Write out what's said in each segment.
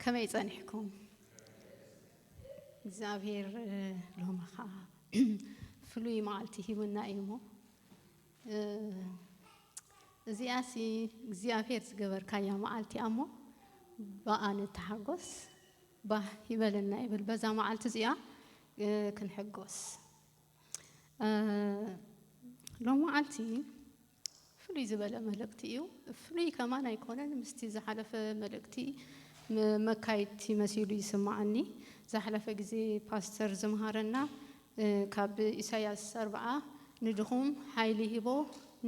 ከመይ ጸኒሕኩም እግዚኣብሔር ሎሚ ከዓ ፍሉይ መዓልቲ ሂቡና እዩ እሞ እዚኣ ሲ እግዚኣብሔር ዝገበርካያ መዓልቲ እያ እሞ ብኣ ንተሓጎስ ባህ ይበለና ይብል በዛ መዓልቲ እዚኣ ክንሕጎስ ሎም መዓልቲ ፍሉይ ዝበለ መልእክቲ እዩ ፍሉይ ከማን ኣይኮነን ምስቲ ዝሓለፈ መልእክቲ መካይድቲ መሲሉ ይስማዓኒ ዝሓለፈ ግዜ ፓስተር ዝምሃረና ካብ ኢሳያስ ኣርብዓ ንድኹም ሓይሊ ሂቦ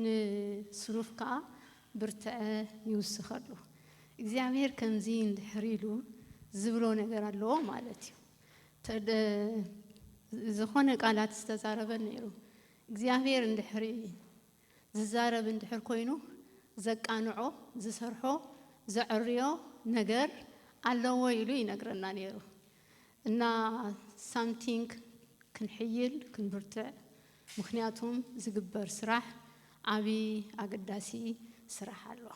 ንስኑፍ ከኣ ብርትዐ ይውስኸሉ እግዚኣብሄር ከምዚ እንድሕር ኢሉ ዝብሎ ነገር ኣለዎ ማለት እዩ ዝኾነ ቃላት ዝተዛረበ ነይሩ እግዚኣብሔር እንድሕሪ ዝዛረብ እንድሕር ኮይኑ ዘቃንዖ ዝሰርሖ ዘዕርዮ ነገር ኣለዎ ኢሉ ይነግረና ነይሩ እና ሳምቲንግ ክንሕይል ክንብርትዕ ምክንያቱም ዝግበር ስራሕ ዓብዪ ኣገዳሲ ስራሕ ኣሎ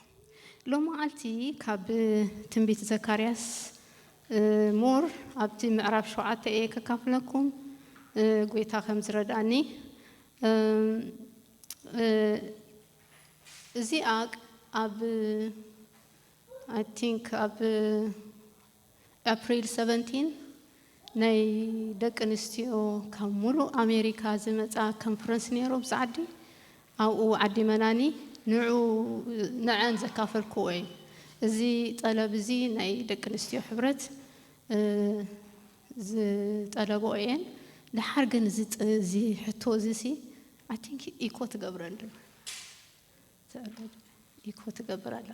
ሎማዓልቲ ካብ ትንቢት ዘካርያስ more ኣብቲ ምዕራፍ ሸውዓተ እየ ከካፍለኩም ጎይታ ከም ዝረድኣኒ እዚኣ ኣብ I think ኣብ April 17 ናይ ደቂ ኣንስትዮ ካብ ሙሉእ ኣሜሪካ ዝመፃ ኮንፈረንስ ነይሩ ኣብዚ ዓዲ ኣብኡ ዓዲ መናኒ ንዑ ንዐን ዘካፈልክዎ እየ። እዚ ጠለብ እዚ ናይ ደቂ ኣንስትዮ ሕብረት ዝጠለብኦ እየን። ደሓር ግን እዚ እዚ ሕቶ እዚ ሲ ኣይ ቲንክ ኢኮ ትገብረን ድማ ኢኮ ትገብር ኣላ።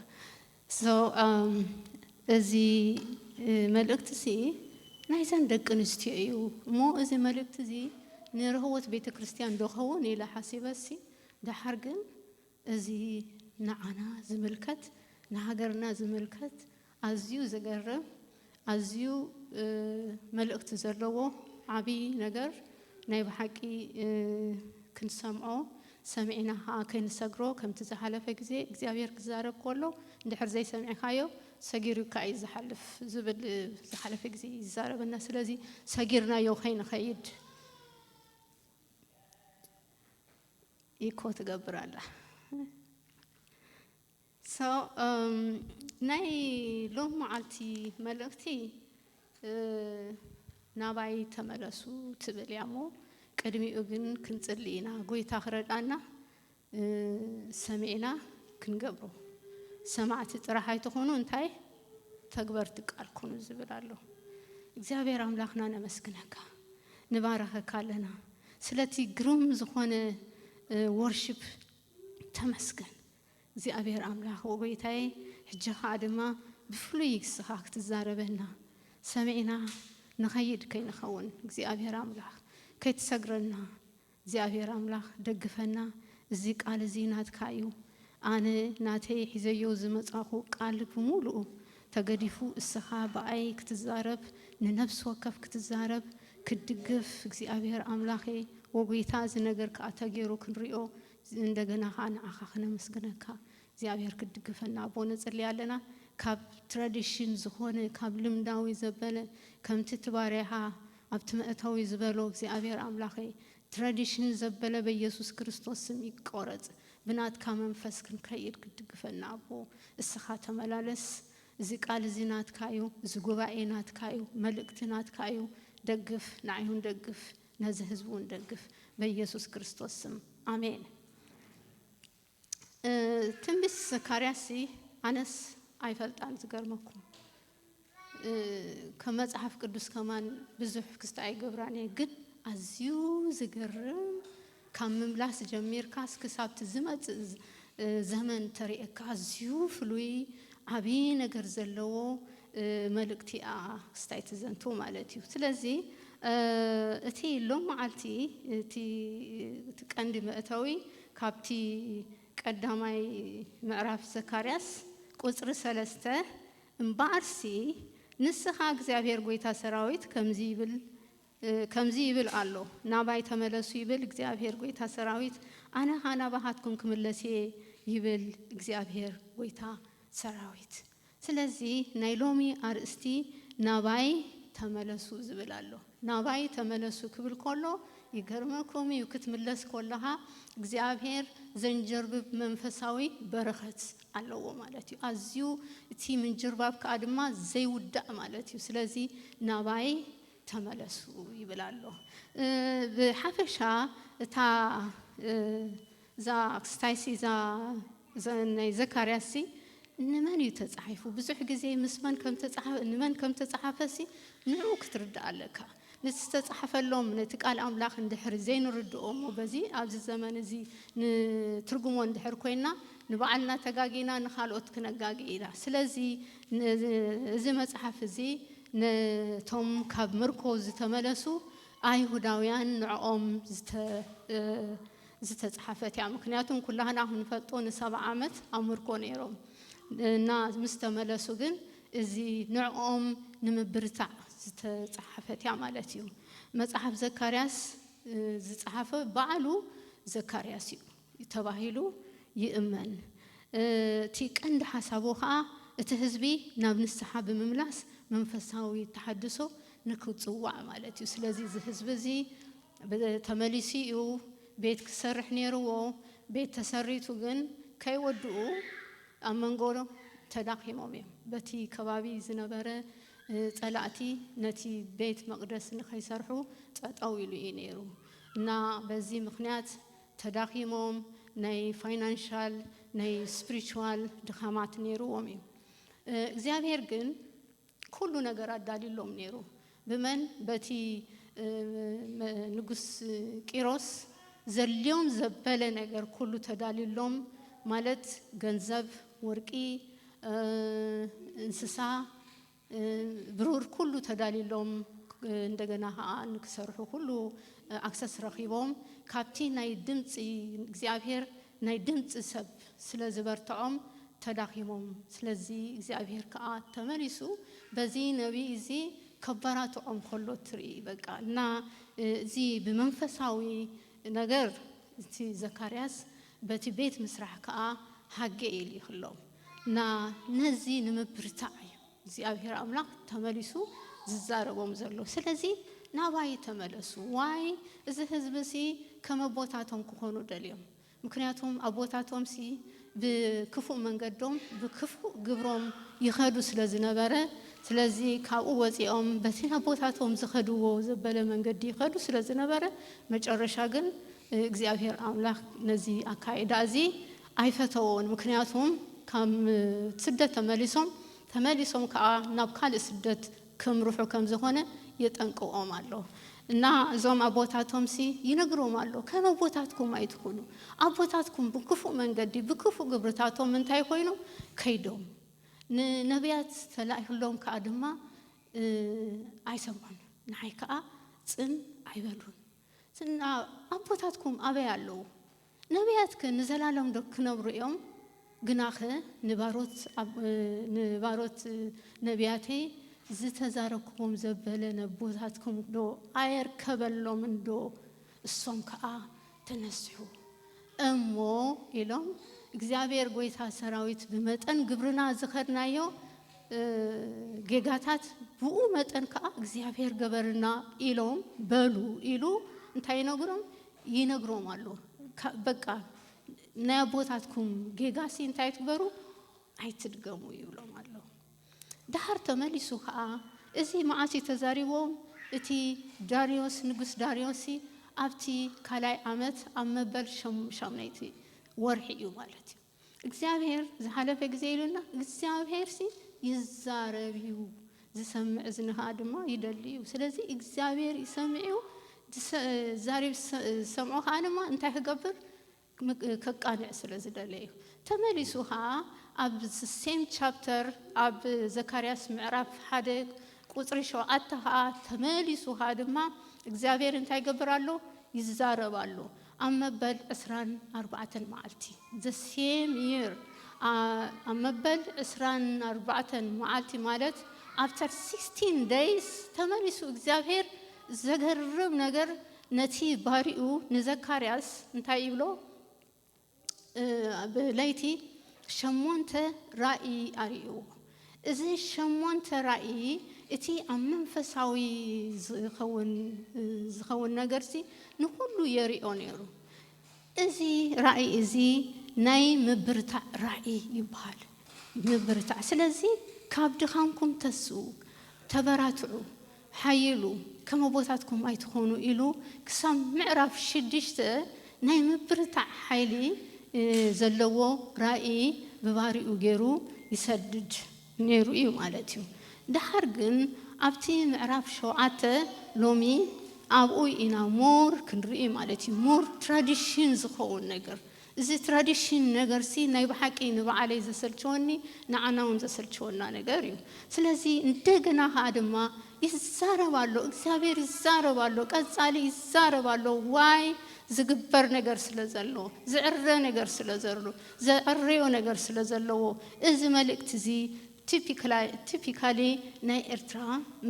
So እዚ መልእክቲ'ሲ ናይዘን ደቂ ኣንስትዮ እዩ እሞ እዚ መልእክቲ እዚ ንርህወት ቤተ ክርስቲያን ዶ ክኸውን ኢለ ሓሲበ'ሲ ደሓር ግን እዚ ንዓና ዝምልከት ንሃገርና ዝምልከት ኣዝዩ ዘገርም ኣዝዩ መልእክቲ ዘለዎ ዓቢ ነገር ናይ ብሓቂ ክንሰምዖ ሰሚዕና ከኣ ከይንሰግሮ ከምቲ ዝሓለፈ ግዜ እግዚኣብሔር ክዛረብ ከሎ እንድሕር ዘይሰሚዕካዮ ሰጊሩካ እዩ ዝሓልፍ ዝብል ዝሓለፈ ግዜ ይዛረበና ስለዚ ሰጊርናዮ ከይንኸይድ ኢኮ ትገብር ኣላ So ናይ ሎም መዓልቲ መልእኽቲ ናባይ ተመለሱ ትብል እያ እሞ ቅድሚኡ ግን ክንጽሊ ኢና ጎይታ ክረድኣና ሰሚዕና ክንገብሮ ሰማዕቲ ጥራሕ ኣይትኹኑ እንታይ ተግበርቲ ቃል ኩኑ ዝብል ኣሎ እግዚኣብሔር ኣምላኽና ነመስግነካ ንባረኸካ ኣለና ስለቲ ግሩም ዝኾነ ወርሽፕ ተመስገን እግዚኣብሔር ኣምላክ ወጎይታየ ሕጂ ከኣ ድማ ብፍሉይ ንስካ ክትዛረበና ሰሚዕና ንከይድ ከይንከውን እግዚኣብሔር ኣምላክ ከይትሰግረና እግዚኣብሔር ኣምላክ ደግፈና እዚ ቃል እዚ ናትካ እዩ ኣነ ናተይ ሒዘዮ ዝመጻኩ ቃል ብሙሉኡ ተገዲፉ እስካ ብኣይ ክትዛረብ ንነብሲ ወከፍ ክትዛረብ ክትድግፍ እግዚኣብሔር ኣምላኬ ወጎይታ እዚ ነገር ከኣ ተጌሩ ክንሪኦ እንደገና ከኣ ንዓኻ ክነመስግነካ እግዚኣብሔር ክትድግፈና ኣቦ ንጽሊ ኣለና ካብ ትራዲሽን ዝኾነ ካብ ልምዳዊ ዘበለ ከምቲ እቲ ባርያኻ ኣብቲ መእተዊ ዝበሎ እግዚኣብሔር ኣምላኸይ ትራዲሽን ዘበለ በየሱስ ክርስቶስ ስም ይቆረጽ ብናትካ መንፈስ ክንከይድ ክትድግፈና ኣቦ እስኻ ተመላለስ እዚ ቃል እዚ ናትካ እዩ እዚ ጉባኤ ናትካ እዩ መልእክቲ ናትካ እዩ ደግፍ ንዓይ ውን ደግፍ ነዚ ህዝቢ ውን ደግፍ በየሱስ ክርስቶስ ስም ኣሜን። ትንቢት ዘካርያስሲ ኣነስ ኣይፈልጣን ዝገርመኩም ከም መጽሓፍ ቅዱስ ከማን ብዙሕ ክስታይ ኣይገብራን እየ ግን ኣዝዩ ዝገርም ካብ ምምላስ ጀሚርካስ ክሳብ'ቲ ዝመጽእ ዘመን ተርእየካ ኣዝዩ ፍሉይ ዓቢ ነገር ዘለዎ መልእክቲ እኣ ስታይ ትዘንቱ ማለት እዩ። ስለዚ እቲ ሎምዓልቲ እቲ እቲ ቀንዲ መእተዊ ካብቲ ቀዳማይ ምዕራፍ ዘካርያስ ቁጽሪ ሰለስተ እምበኣርሲ ንስኻ እግዚኣብሄር ጐይታ ሰራዊት ከምዚ ይብል ከምዚ ይብል ኣሎ፣ ናባይ ተመለሱ ይብል እግዚኣብሄር ጐይታ ሰራዊት፣ ኣነ ኸኣ ናባኻትኩም ክምለስ እየ ይብል እግዚኣብሄር ጐይታ ሰራዊት። ስለዚ ናይ ሎሚ ኣርእስቲ ናባይ ተመለሱ ዝብል ኣሎ። ናባይ ተመለሱ ክብል ከሎ ይገርመኩም እዩ፣ ክትምለስ ከለኻ እግዚኣብሄር ዘንጀርብብ መንፈሳዊ በረኸት ኣለዎ ማለት እዩ። ኣዝዩ እቲ ምንጅርባብ ከኣ ድማ ዘይውዳእ ማለት እዩ። ስለዚ ናባይ ተመለሱ ይብል ኣሎ። ብሓፈሻ እታ እዛ ክስታይሲ እዛ ናይ ዘካርያስሲ ንመን እዩ ተጻሒፉ ብዙሕ ግዜ ምስ መን ከም ተጻሓፈ ንመን ከም ተጻሓፈሲ ንዑ ክትርዳእ ኣለካ ነቲ ዝተጻሕፈሎም ነቲ ቃል ኣምላኽ እንድሕር ዘይንርድኦ እሞ በዚ ኣብዚ ዘመን እዚ ንትርጉሞ እንድሕር ኮይና ንባዕልና ተጋጊና ንካልኦት ክነጋጊ ኢና ስለዚ እዚ መጽሓፍ እዚ ነቶም ካብ ምርኮ ዝተመለሱ ኣይሁዳውያን ንዕኦም ዝተጽሓፈት እያ። ምክንያቱ ኩላህና ክንፈልጦ ንሰብዓ ዓመት ኣብ ምርኮ ነይሮም እና ምስ ተመለሱ ግን እዚ ንዕኦም ንምብርታዕ ዝተጽሓፈት እያ ማለት እዩ። መጽሓፍ ዘካርያስ ዝጸሓፈ ባዕሉ ዘካርያስ እዩ። እዩ ተባሂሉ ይእመን። እቲ ቀንዲ ሓሳቡ ከኣ እቲ ህዝቢ ናብ ንስሓ ብምምላስ መንፈሳዊ ተሓድሶ ንክጽዋዕ ማለት እዩ። ስለዚ እዚ ህዝቢ እዚ ተመሊሱ እዩ ቤት ክሰርሕ ነይርዎ። ቤት ተሰሪቱ ግን ከይወድኡ ኣብ መንጎ ተዳኺሞም እዮም። በቲ ከባቢ ዝነበረ ጸላእቲ ነቲ ቤት መቕደስ ንከይሰርሑ ጠጠው ኢሉ እዩ ነይሩ እና በዚ ምክንያት ተዳኺሞም ናይ ፋይናንሻል ናይ ስፕሪቹዋል ድኻማት ነይርዎም እዩ እግዚኣብሔር ግን ኩሉ ነገር ኣዳልዩሎም ነይሩ ብመን በቲ ንጉስ ቂሮስ ዘድልዮም ዘበለ ነገር ኩሉ ተዳልዩሎም ማለት ገንዘብ ወርቂ እንስሳ ብሩር ኩሉ ተዳልዩሎም እንደገና ከኣ ንክሰርሑ ኩሉ ኣክሰስ ረኺቦም ካብቲ ናይ ድምጺ እግዚኣብሄር ናይ ድምጺ ሰብ ስለ ዝበርትዖም ተዳኺሞም ስለዚ እግዚኣብሄር ከኣ ተመሊሱ በዚ ነብይ እዚ ከባራትዖም ከሎ ትርኢ በቃ እና እዚ ብመንፈሳዊ ነገር እቲ ዘካርያስ በቲ ቤት ምስራሕ ከኣ ሃጌ ኢሉ ይክሎም እና ነዚ ንምብርታዕ እዩ እግዚኣብሔር ኣምላክ ተመሊሱ ዝዛረቦም ዘሎ ስለዚ ናባይ ተመለሱ ዋይ እዚ ህዝቢ ሲ ከም ኣቦታቶም ክኮኑ ደልዮም ምክንያቱም ኣቦታቶም ሲ ብክፉእ መንገዶም ብክፉእ ግብሮም ይከዱ ስለ ዝነበረ ስለዚ ካብኡ ወፂኦም በቲ ኣቦታቶም ዝከድዎ ዘበለ መንገዲ ይከዱ ስለ ዝነበረ መጨረሻ ግን እግዚኣብሔር ኣምላክ ነዚ ኣካይዳ እዚ ኣይፈተዎን ምክንያቱም ካብ ስደት ተመሊሶም ተመሊሶም ከኣ ናብ ካልእ ስደት ከምርሑ ከም ዝኮነ የጠንቅቆም ኣሎ እና እዞም ኣቦታቶምሲ ይነግሮም ኣሎ ከም ኣቦታትኩም ኣይትኩኑ ኣቦታትኩም ብክፉእ መንገዲ ብክፉእ ግብርታቶም እንታይ ኮይኑ ከይዶም ንነብያት ተላኢክሎም ከኣ ድማ ኣይሰምዑን ንዓይ ከኣ ጽን ኣይበሉን እና ኣቦታትኩም ኣበይ ኣለዉ ነብያትክ ንዘላለምዶ ክነብሩ እዮም? ግናኸ ንባሮት ነብያተይ ዝተዛረብኩዎም ዘበለ ነቦታትኩምዶ ኣየርከበሎምንዶ? እሶም ከኣ ተነስሑ እሞ ኢሎም፣ እግዚኣብሄር ጐይታ ሰራዊት ብመጠን ግብርና ዝኸድናዮ ጌጋታት ብኡ መጠን ከኣ እግዚኣብሄር ገበርልና ኢሎም በሉ ኢሉ እንታይ ይነግሮም? ይነግሮም ኣሎ በቃ ናይ ኣቦታትኩም ጌጋሲ እንታይ ትበሩ ኣይትድገሙ ይብሎም ኣሎ ደሃር ተመሊሱ ከዓ እዚ መዓሲ ተዛሪቦም እቲ ዳርዮስ ንጉስ ዳርዮሲ ኣብቲ ካልኣይ ዓመት ኣብ መበል ሸምነይቲ ወርሒ እዩ ማለት እዩ እግዚኣብሄር ዝሓለፈ ግዜ ኢሉና እግዚኣብሄርሲ ይዛረብ እዩ ዝሰምዕ እዝኒ ከኣ ድማ ይደሊ እዩ ስለዚ እግዚኣብሄር ይሰምዕ እዩ ዛሬብ ዝሰምዖ ከዓ ድማ እንታይ ክገብር ከቃንዕ ስለ ዝደለ እዩ ተመሊሱ ከዓ ኣብ ሴም ቻፕተር ኣብ ዘካርያስ ምዕራፍ ሓደ ቁፅሪ ሸውዓተ ከዓ ተመሊሱ ከዓ ድማ እግዚኣብሔር እንታይ ይገብር ኣሎ ይዛረብ ኣሎ ኣብ መበል ዕስራን ኣርባዕተን መዓልቲ፣ the same year፣ ኣብ መበል ዕስራን ኣርባዕተን መዓልቲ ማለት after sixteen days ተመሊሱ እግዚኣብሄር ዘገርም ነገር ነቲ ባሪኡ ንዘካርያስ እንታይ ይብሎ ብለይቲ ሸሞንተ ራእይ ኣርእይዎ እዚ ሸሞንተ ራኢ እቲ ኣብ መንፈሳዊ ዝኸውን ዝኸውን ነገርሲ ንኹሉ የሪኦ ነሩ። እዚ ራኢ እዚ ናይ ምብርታዕ ራኢ ይብሃል። ምብርታዕ ስለዚ ካብ ድኻምኩም ተስኡ ተበራትዑ ሓይሉ፣ ከም ኣቦታትኩም ኣይትኹኑ ኢሉ ክሳብ ምዕራፍ ሽዱሽተ ናይ ምብርታዕ ሓይሊ ዘለዎ ራኢ ብባሪኡ ገይሩ ይሰድድ ነይሩ እዩ ማለት እዩ። ደሓር ግን ኣብቲ ምዕራፍ ሸውዓተ ሎሚ ኣብኡ ኢና ሞር ክንርኢ ማለት እዩ ሞር ትራዲሽን ዝኸውን ነገር እዚ ትራዲሽን ነገርሲ ናይ ብሓቂ ንባዓለይ ዘሰልቸወኒ ንዓና ውን ዘሰልቸወና ነገር እዩ ስለዚ እንደገና ከኣ ድማ ይዛረብ ኣሎ እግዚኣብሔር ይዛረብ ኣሎ ቀጻሊ ይዛረብ ኣሎ ዋይ ዝግበር ነገር ስለ ዘሎ ዝዕረ ነገር ስለ ዘሉ ዘዕረዮ ነገር ስለ ዘለዎ እዚ መልእክቲ እዚ ቲፒካሊ ናይ ኤርትራ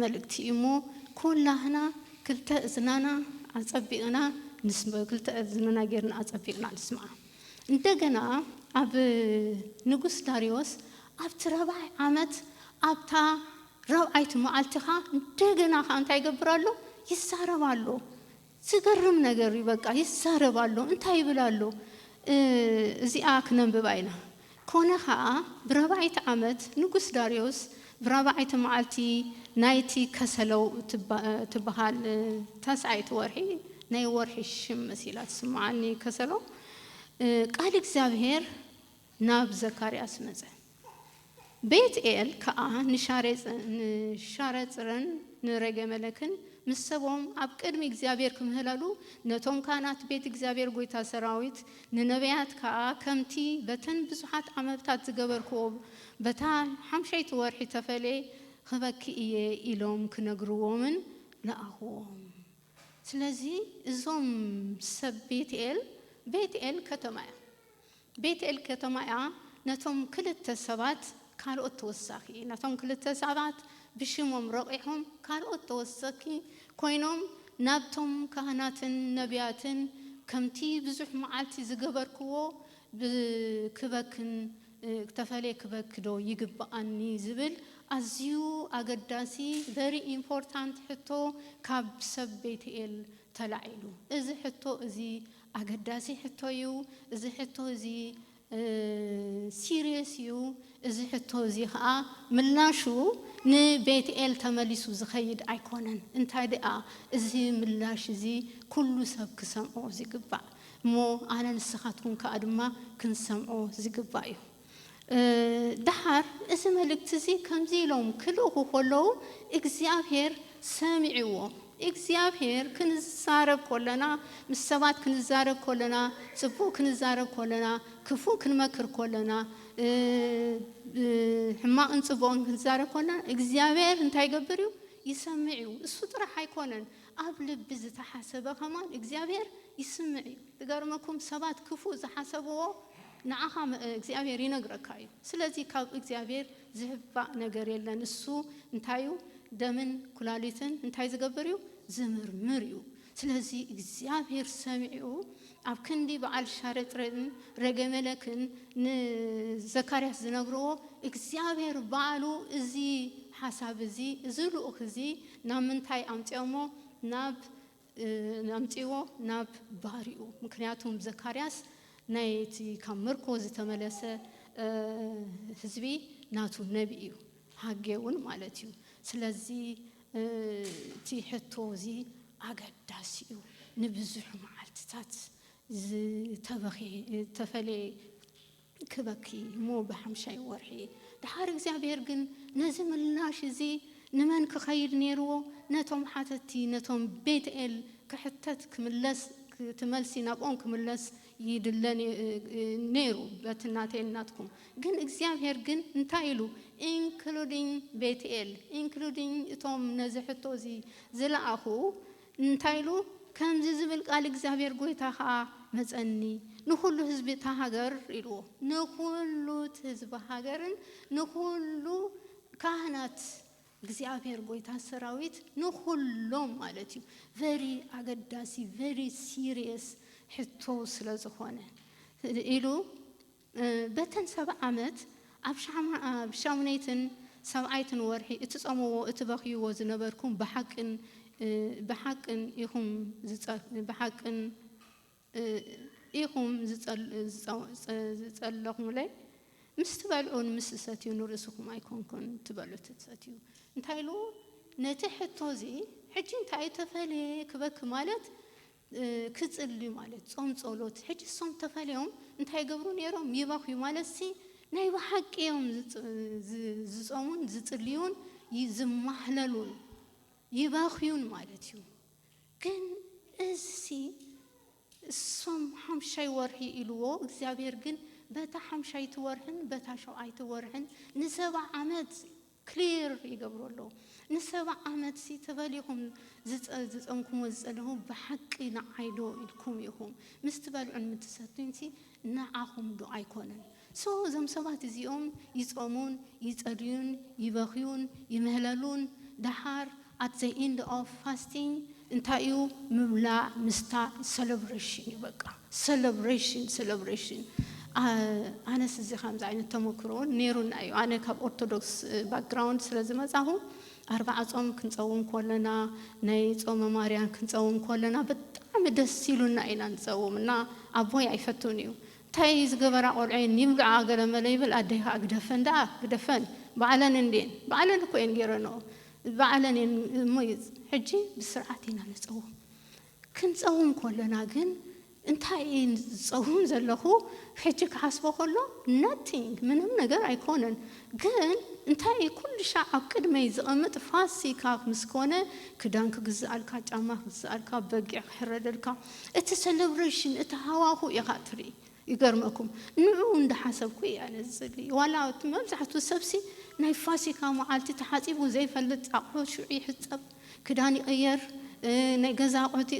መልእክቲ እዩ እሞ ኩላህና ክልተ እዝናና ኣጸቢቅና ንስምዕ ክልተ እዝንና ጌርና ኣጸቢቅና ንስምዓ እንደገና ኣብ ንጉስ ዳርዮስ ኣብቲ ራብዓይ ዓመት ኣብታ ራብዓይቲ መዓልቲ ከኣ እንደገና ከኣ እንታይ ይገብር ኣሎ ይዛረብ ኣሎ ዝገርም ነገር እዩ በቃ ይዛረብ ኣሎ እንታይ ይብል ኣሎ እዚኣ ክነንብባ ኢና ኮነ ከኣ ብራብዓይቲ ዓመት ንጉስ ዳርዮስ ብራብዓይቲ መዓልቲ ናይቲ ከሰለው እትበሃል ታስዓይቲ ወርሒ ናይ ወርሒ ሽም መሲላ ትስምዓኒ ከሰለው ቃል እግዚኣብሄር ናብ ዘካርያስ መጸ። ቤት-ኤል ከኣ ንሻሬጽርን ንሬጌመለክን ምስ ሰቦም ኣብ ቅድሚ እግዚኣብሄር ክምህለሉ፣ ነቶም ካህናት ቤት እግዚኣብሄር ጐይታ ሰራዊት፣ ንነብያት ከኣ ከምቲ በተን ብዙሓት ዓመብታት ዝገበርክዎ በታ ሓምሸይቲ ወርሒ ተፈልየ ኽበኪ እየ ኢሎም ክነግርዎምን ለኣኽዎም። ስለዚ እዞም ሰብ ቤት-ኤል፣ ቤት-ኤል ከተማ እያ። ቤትኤል ከተማ'ያ ነቶም ክልተ ሰባት ካልኦት ተወሳኪ ነቶም ክልተ ሰባት ብሽሞም ረቂሖም ካልኦት ተወሰኪ ኮይኖም ናብቶም ካህናትን ነብያትን ከምቲ ብዙሕ መዓልቲ ዝገበርክዎ ብክበክን ተፈልየ ክበኪ ዶ ይግብኣኒ ዝብል ኣዝዩ ኣገዳሲ very important ሕቶ ካብ ሰብ ቤትኤል ተላዒሉ እዚ ሕቶ እዚ ኣገዳሲ ሕቶ እዩ እዚ ሕቶ እዚ ሲርየስ እዩ እዚ ሕቶ እዚ ከኣ ምላሹ ንቤትኤል ተመሊሱ ዝኸይድ ኣይኮነን እንታይ ደኣ እዚ ምላሽ እዚ ኩሉ ሰብ ክሰምዖ ዝግባእ እሞ ኣነ ንስኻትኩም ከኣ ድማ ክንሰምዖ ዝግባእ እዩ። ደሓር እዚ መልእክቲ እዚ ከምዚ ኢሎም ክልእኹ ከለዉ እግዚኣብሄር ሰሚዕዎ። እግዚኣብሄር ክንዛረብ ከለና ምስ ሰባት ክንዛረብ ከለና ጽቡቕ ክንዛረብ ከለና ክፉእ ክንመክር ከለና ሕማቕን ጽቡቕን ክንዛረብ ከለና እግዚኣብሄር እንታይ ይገብር እዩ ይሰምዕ እዩ። እሱ ጥራሕ ኣይኮነን ኣብ ልቢ ዝተሓሰበ ከማን እግዚኣብሄር ይስምዕ እዩ። ዝገርመኩም ሰባት ክፉእ ዝሓሰብዎ ንዓኻ እግዚኣብሔር ይነግረካ እዩ ስለዚ ካብ እግዚኣብሔር ዝህባእ ነገር የለን ንሱ እንታይ እዩ ደምን ኩላሊትን እንታይ ዝገብር እዩ ዝምርምር እዩ ስለዚ እግዚኣብሔር ሰሚዑ ኣብ ክንዲ በዓል ሻረጥረን ረገመለክን ንዘካርያስ ዝነግርዎ እግዚኣብሔር ባዕሉ እዚ ሓሳብ እዚ እዚ ልኡኽ እዚ ናብ ምንታይ ኣምፅኦሞ ናብ ኣምጽዎ ናብ ባሪኡ ምክንያቱም ዘካርያስ ናይ እቲ ካብ ምርኮ ዝተመለሰ ህዝቢ ናቱ ነቢ እዩ ሃጌ ውን ማለት እዩ ስለዚ እቲ ሕቶ እዚ ኣገዳሲ እዩ ንብዙሕ መዓልትታት ዝተበኽየ ዝተፈለየ ክበኪ እሞ ብሓምሻይ ወርሒ ደሓር እግዚኣብሔር ግን ነዚ ምላሽ እዚ ንመን ክኸይድ ነይርዎ ነቶም ሓተቲ ነቶም ቤት ኤል ክሕተት ክምለስ እቲ መልሲ ናብኦም ክምለስ ይድለ ነይሩ በቲ ናተይን ናትኩም ግን እግዚኣብሔር ግን እንታይ ኢሉ ኢንክሉዲንግ ቤት ኤል ኢንክሉዲንግ እቶም ነዚ ሕቶ እዚ ዝለኣኹ እንታይ ኢሉ? ከምዚ ዚብል ቃል እግዚኣብሄር ጐይታ ኸኣ መጸኒ፣ ንዅሉ ህዝቢ እታ ሃገር ኢልዎ። ንዅሉ እቲ ህዝቢ ሃገርን ንዅሉ ካህናት እግዚኣብሄር ጐይታ ሰራዊት፣ ንዅሎም ማለት እዩ፣ very ኣገዳሲ፣ very serious ሕቶ ስለ ዝዀነ ኢሉ፣ በተን ሰብዓ ዓመት ኣብ ሻምነይትን ሰብዓይትን ወርሒ እትጸምዎ እትበኽይዎ ዝነበርኩም ብሓቅን ብሓቅን ኢኹም ብሓቅን ኢኹም ዝጸለኹምለይ፣ ምስ ትበልዑን ምስ ትሰትዩን ንርእስኹም ኣይኮንኩን ትበልዑ እትሰትዩ። እንታይ ኢሉ ነቲ ሕቶ እዚ ሕጂ እንታይ እዩ እተፈልየ ክበኪ ማለት ክጽልዩ ማለት ጾም ጾሎት ሕጂ እሶም ተፈልዮም እንታይ ይገብሩ ኔሮም ይበኽዩ ማለትሲ ናይ ብሓቂ እዮም ዝጾሙን ዝጽልዩን ዝማህለሉን ይበኽዩን ማለት እዩ ግን እዚሲ እሶም ሓምሻይ ወርሒ ኢልዎ እግዚኣብሔር ግን በታ ሓምሻይቲ ወርሕን በታ ሸውዓይቲ ወርሕን ንሰባ ዓመት ክሊር ይገብሩ ኣለዉ ንሰባ ዓመት ሲ ተበሊኩም ዝጸንኩሞ ዝጸለኹ ብሓቂ ንዓይ ዶ ኢልኩም ኢኹም ምስ ትበልዑን ምትሰቱን ሲ ንዓኹም ዶ ኣይኮነን so እዞም ሰባት እዚኦም ይጾሙን ይጸልዩን ይበኽዩን ይምህለሉን ደሓር At the end of fasting እንታይ እዩ ምብላዕ ምስታይ ሰለብረሽን እዩ በቃ ሰለብረሽን ሰለብረሽን ኣነስ እዚ ከምዚ ዓይነት ተመክሮ እውን ነይሩና እዩ ኣነ ካብ ኦርቶዶክስ ባክግራውንድ ስለ ዝመፃኹ ኣርባዓ ፆም ክንፀውም ኮለና ናይ ፆመ ማርያን ክንፀውም ኮለና ብጣዕሚ ደስ ኢሉና ኢና ንፀውም እና ኣቦይ ኣይፈቱን እዩ እንታይ ዝገበራ ቆልዑ ይብልዓ ገለመለ ይብል ኣደይ ከዓ ግደፈን ደኣ ግደፈን ባዕለን እንድየን ባዕለን እኮ እየን ገይረንኦ ባዕለን እየን እሞ ሕጂ ብስርዓት ኢና ንጸውም ክንጸውም ኮሎና ግን እንታይ እየ ዝጸውም ዘለኹ ሕጂ ክሓስቦ ኮሎ nothing ምንም ነገር ኣይኮነን ግን እንታይ እየ ኩሉ ሻዕ ኣብ ቅድመይ ዝቐምጥ ፋሲካ ምስ ኮነ ክዳን ክግዝኣልካ ጫማ ክግዝኣልካ በጊዕ ክሕረደልካ እቲ ሰለብረሽን እቲ ሃዋሁ ኢኻ ትርኢ ይገርመኩም ንዑኡ እንዳሓሰብኩ ኢያ ነዚ ዝብሊ ዋላ እቲ መብዛሕቱ ሰብሲ ናይ ፋሲካ መዓልቲ ተሓጺቡ ዘይፈልጥ ኣቑሑት ሽዑ ይሕጸብ ክዳን ይቕየር ናይ ገዛ ኣቑሑት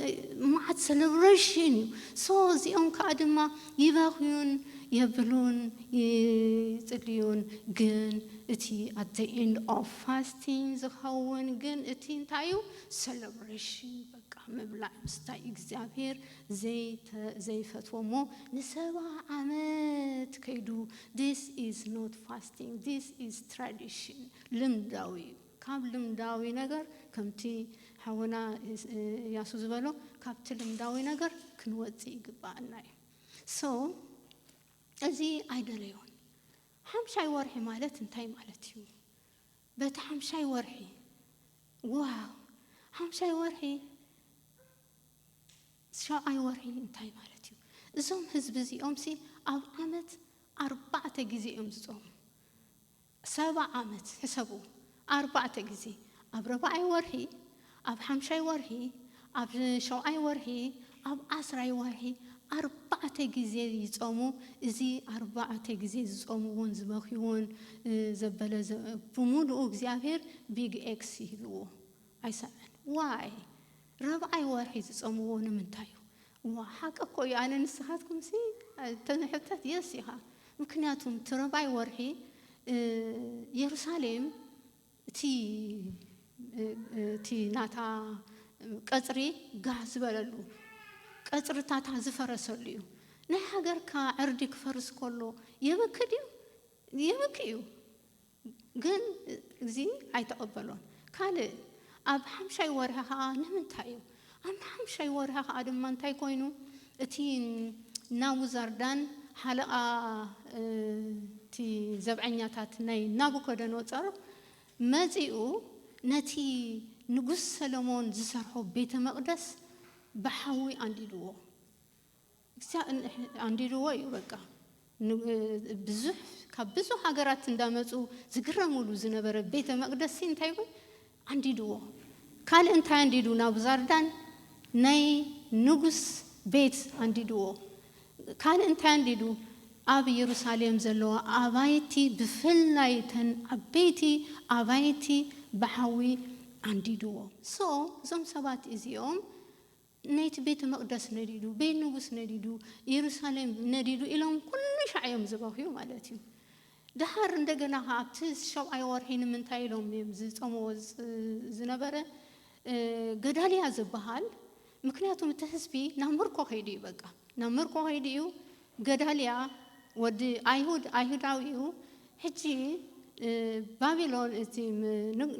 መዓት ሰለብረሽን ኢዩ ሶ እዚኦም ከኣ ድማ ይበኽዩን የብሉን ይጽልዩን ግን እቲ ኣት ዘ ኢንድ ኦፍ ፋስቲንግ ዝኸውን ግን እቲ እንታይ ኢዩ ሰለብረሽን በቃ ምብላዕ ምስታይ እግዚኣብሄር ዘይፈትዎ እሞ ንሰባ ዓመት ከይዱ this is not fasting this is tradition ልምዳዊ እዩ ካብ ልምዳዊ ነገር ከምቲ ሓውና እያሱ ዝበሎ ካብቲ ልምዳዊ ነገር ክንወጽእ ይግባኣና እዩ so እዚ ኣይደለዮን ሓምሻይ ወርሒ ማለት እንታይ ማለት እዩ በቲ ሓምሻይ ወርሒ ዋው ሓምሻይ ወርሒ ሻብዓይ ወርሒ እንታይ ማለት እዩ እዞም ህዝቢ እዚኦም ሲ ኣብ ዓመት ኣርባዕተ ግዜ እዮም ዝጾሙ ሰባ ዓመት ሕሰቡ ኣርባዕተ ግዜ ኣብ ረባዓይ ወርሒ ኣብ ሓምሻይ ወርሒ፣ ኣብ ሸውዓይ ወርሒ፣ ኣብ ዓስራይ ወርሒ ኣርባዕተ ግዜ ይጸሙ፣ እዚ ኣርባዕተ ግዜ ዝጸምዎን ዝበኽይዎን ዘበለ ብምሉኡ እግዚኣብሄር ቢግ ኤክስ ሂብዎ ኣይሰምዐን ዋይ ራብዓይ ወርሒ ዝጸምዎ ንምንታይ እዩ ዋእ ሓቂ እኮ እዩ ኣነ ንስኻትኩምሲ ተንሕተት የስ ኢኻ ምክንያቱም እቲ ራብዓይ ወርሒ የሩሳሌም እቲ እቲ ናታ ቀጽሪ ጋህ ዝበለሉ ቀጽርታታ ዝፈረሰሉ እዩ ናይ ሃገርካ ዕርዲ ክፈርስ ከሎ የበኪ ድዩ የበኪ እዩ ግን እዚ ኣይተቀበሎን ካልእ ኣብ ሓምሻይ ወርሒ ከኣ ንምንታይ እዩ ኣብ ሓምሻይ ወርሒ ከኣ ድማ እንታይ ኮይኑ እቲ ናቡዛርዳን ሓለቓ እቲ ዘብዐኛታት ናይ ናቡኮዶኖጾር መጺኡ ነቲ ንጉስ ሰሎሞን ዝሰርሖ ቤተ መቅደስ ብሓዊ ኣንዲድዎ። እስያ ኣንዲድዎ እዩ በቃ ብዙሕ ካብ ብዙሕ ሃገራት እንዳመጹ ዝግረምሉ ዝነበረ ቤተ መቅደስ ሲ እንታይ ይኹን ኣንዲድዎ ካልእ እንታይ ኣንዲዱ ናቡዛርዳን ናይ ንጉስ ቤት ኣንዲድዎ ካልእ እንታይ ኣንዲዱ ኣብ የሩሳሌም ዘለዋ ኣባይቲ ብፍላይ እተን ዓበይቲ ኣባይቲ ብሓዊ ኣንዲድዎ ሶ እዞም ሰባት እዚኦም ናይቲ ቤተ መቕደስ ነዲዱ፣ ቤት ንጉስ ነዲዱ፣ የሩሳሌም ነዲዱ ኢሎም ኩሉ ሻዕ እዮም ዝበኽዩ ማለት እዩ። ደሓር እንደገና ኸኣ ኣብቲ ሻብዓይ ወርሒ ንምንታይ ኢሎም እዮም ዝጸምዎ ዝነበረ ገዳልያ ዝበሃል ምክንያቱም እቲ ህዝቢ ናብ ምርኮ ከይዱ እዩ በቃ ናብ ምርኮ ከይዱ እዩ። ገዳልያ ወዲ ኣይሁድ ኣይሁዳዊ እዩ። ሕጂ ባቢሎን እቲ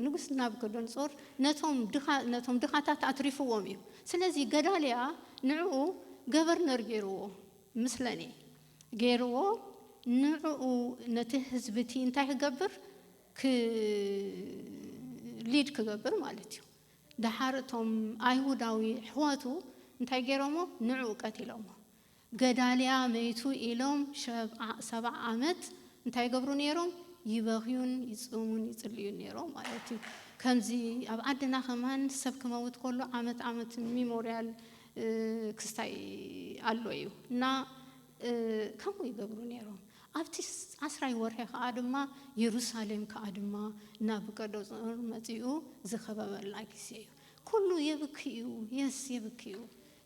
ንጉስ ናቡከደንጾር ነቶም ድኻ ነቶም ድኻታት ኣትሪፍዎም እዩ። ስለዚ ገዳልያ ንዕኡ ገቨርነር ገይርዎ ምስለኒ ገይርዎ ንዕኡ ነቲ ህዝቢ እቲ እንታይ ክገብር ክ ሊድ ክገብር ማለት እዩ። ደሓር እቶም ኣይሁዳዊ ኣሕዋቱ እንታይ ገይሮሞ ንዕኡ ቀቲሎሞ። ገዳልያ መይቱ ኢሎም ሸብዓ ሰብዓ ዓመት እንታይ ይገብሩ ኔሮም ይበኽዩን ይጽሙን ይጽልዩን ኔሮም ማለት እዩ ከምዚ ኣብ ዓድና ከማን ሰብ ክመውት ከሎ ዓመት ዓመት ሚሞርያል ክስታይ ኣሎ እዩ እና ከምኡ ይገብሩ ኔሮም ኣብቲ ዓስራይ ወርሒ ከኣ ድማ የሩሳሌም ከኣ ድማ ናቡከደጾር መጺኡ ዝኸበበላ ግዜ እዩ ኩሉ የብኪ እዩ የስ የብኪ እዩ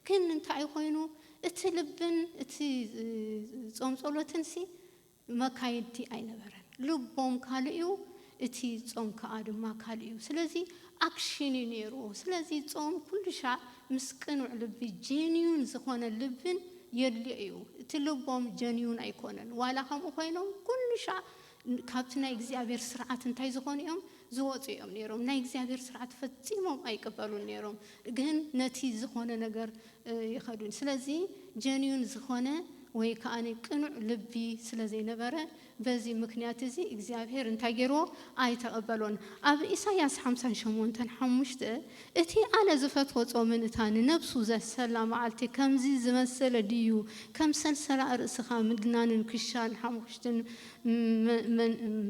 ግን እንታይ ኮይኑ እቲ ልብን እቲ ጾም ጸሎትንሲ መካየድቲ ኣይነበረን ልቦም ካልእ እዩ እቲ ጾም ከኣ ድማ ካልእ እዩ ስለዚ ኣክሽን እዩ ኔሩ ስለዚ ጾም ኩሉሻዕ ምስ ቅኑዕ ልቢ ጀንዩን ዝኮነ ልብን የድልዮ እዩ እቲ ልቦም ጀንዩን ኣይኮነን ዋላ ከምኡ ኮይኖም ኩሉሻዕ ካብቲ ናይ እግዚኣብሔር ስርዓት እንታይ ዝኾኑ እዮም? ዝወፁ እዮም ነይሮም። ናይ እግዚኣብሔር ስርዓት ፈፂሞም ኣይቅበሉን ነይሮም። ግን ነቲ ዝኾነ ነገር ይኸዱ። ስለዚ ጀንዩን ዝኾነ ወይ ከዓ ቅኑዕ ልቢ ስለ ዘይነበረ በዚ ምክንያት እዚ እግዚኣብሔር እንታይ ገይርዎ? ኣይተቐበሎን። ኣብ ኢሳይያስ ሓምሳን ሸሞንተን ሓሙሽተ እቲ ኣነ ዝፈትዎ ጾምን እታ ንነብሱ ዘሰላ መዓልቲ ከምዚ ዝመሰለ ድዩ ከም ሰልሰላ ርእስኻ ምድናንን ክሻን ሓሙኽሽትን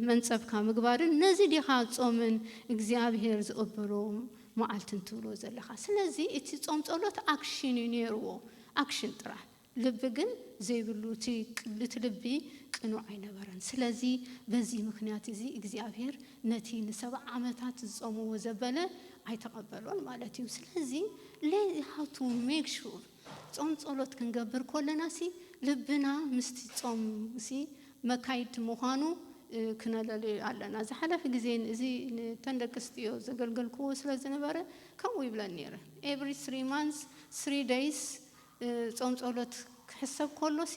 መንጸብካ ምግባርን ነዚ ዲኻ ጾምን እግዚኣብሄር ዝቕበሎ መዓልትን ትብሎ ዘለኻ ስለዚ እቲ ጾም ጸሎት ኣክሽን እዩ ኔርዎ ኣክሽን ጥራሕ ልቢ ግን ዘይብሉ እቲ ቅዱት ልቢ ቅኑዕ ኣይነበረን። ስለዚ በዚ ምኽንያት እዚ እግዚኣብሄር ነቲ ንሰብዓ ዓመታት ዝጾምዎ ዘበለ ኣይተቐበሎን ማለት እዩ። ስለዚ ሌት ሃው ቱ ሜክ ሹር ጾም ጸሎት ክንገብር ኮለናሲ ልብና ምስቲ ጾም ሲ መካይድ ምዃኑ ክነለልዮ ኣለና። ዝሓለፈ ግዜ እዚ ንተን ደቂ ኣስትዮ ዘገልገልክዎ ስለ ዝነበረ ከምኡ ይብለን ኔረ ኤቭሪ ስሪ ማንስ ስሪ ደይስ ጾም ጸሎት ክሕሰብ ከሎሲ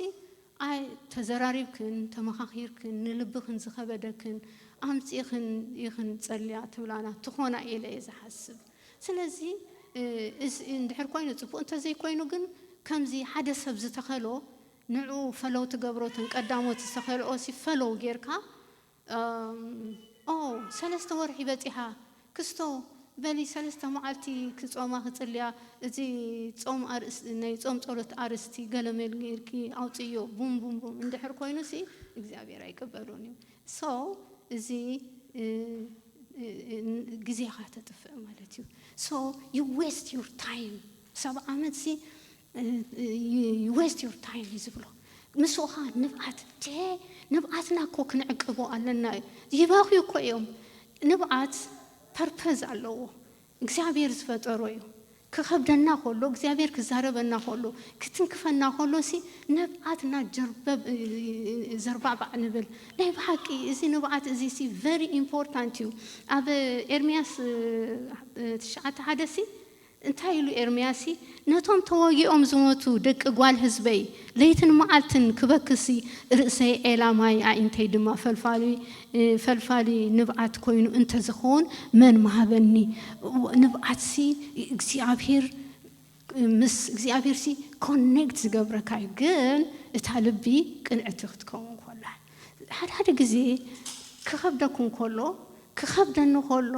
ኣይ ተዘራሪብክን ተመኻኺርክን ንልብኽን ዝኸበደክን ኣምጺእኽን ኢኽን ጸልያ ትብላና ትኾና ኢለ እየ ዝሓስብ ስለዚ እስ እንድሕር ኮይኑ ጽቡቅ እንተዘይ ኮይኑ ግን ከምዚ ሓደ ሰብ ዝተኸሎ ንዕኡ ፈለው ትገብሮ እተን ቀዳሞት ዝተኸልኦሲ ፈለው ጌርካ እም ኦው ሰለስተ ወርሒ በጺሓ ክስቶ በሊ ሰለስተ መዓልቲ ክጾማ ክጽልያ እዚ ጾም ኣርእስቲ ናይ ጾም ጸሎት ኣርእስቲ ገለመል ጌርኪ ኣውጽእዮ ቡም ቡም ቡም እንድሕር ኮይኑ ሲ እግዚኣብሔር ኣይቅበሎን እዩ so እዚ ግዜካ ተጥፍእ ማለት እዩ so you waste your time ሰብ ዓመት ሲ ዩ ዌስት ዩር ታይም እዩ ዝብሎ ምስ ኡኻ ንብዓት ዴ ንብዓትና እኮ ክንዕቅቦ ኣለና እዩ ይበኽዩ እኮ እዮም ንብዓት ፐርፐዝ ኣለዎ እግዚኣብሔር ዝፈጠሮ እዩ ክኸብደና ከሎ እግዚኣብሔር ክዛረበና ከሎ ክትንክፈና ከሎ ሲ ንብዓትና ጀርበብ ዘርባዕባዕ ንብል ናይ ብሓቂ እዚ ንብዓት እዚ ሲ ቨሪ ኢምፖርታንት እዩ ኣብ ኤርምያስ ትሽዓተ ሓደ ሲ እንታይ ኢሉ ኤርምያስሲ ነቶም ተወጊኦም ዝሞቱ ደቂ ጓል ህዝበይ ለይትን መዓልትን ክበክስሲ ርእሰይ ዔላ ማይ ኣዒንተይ ድማ ፈልፋሊ ፈልፋሊ ንብዓት ኮይኑ እንተ ዝኸውን መን ምሃበኒ እወ ንብዓትሲ እግዚኣብሄር ምስ እግዚኣብሄርሲ ኮኔክት ዝገብረካ እዩ ግን እታ ልቢ ቅንዕቲ ክትከውን ኮላ። ሓደ ሓደ ግዜ ክኸብደኩም ከሎ ክኸብደኒ ከሎ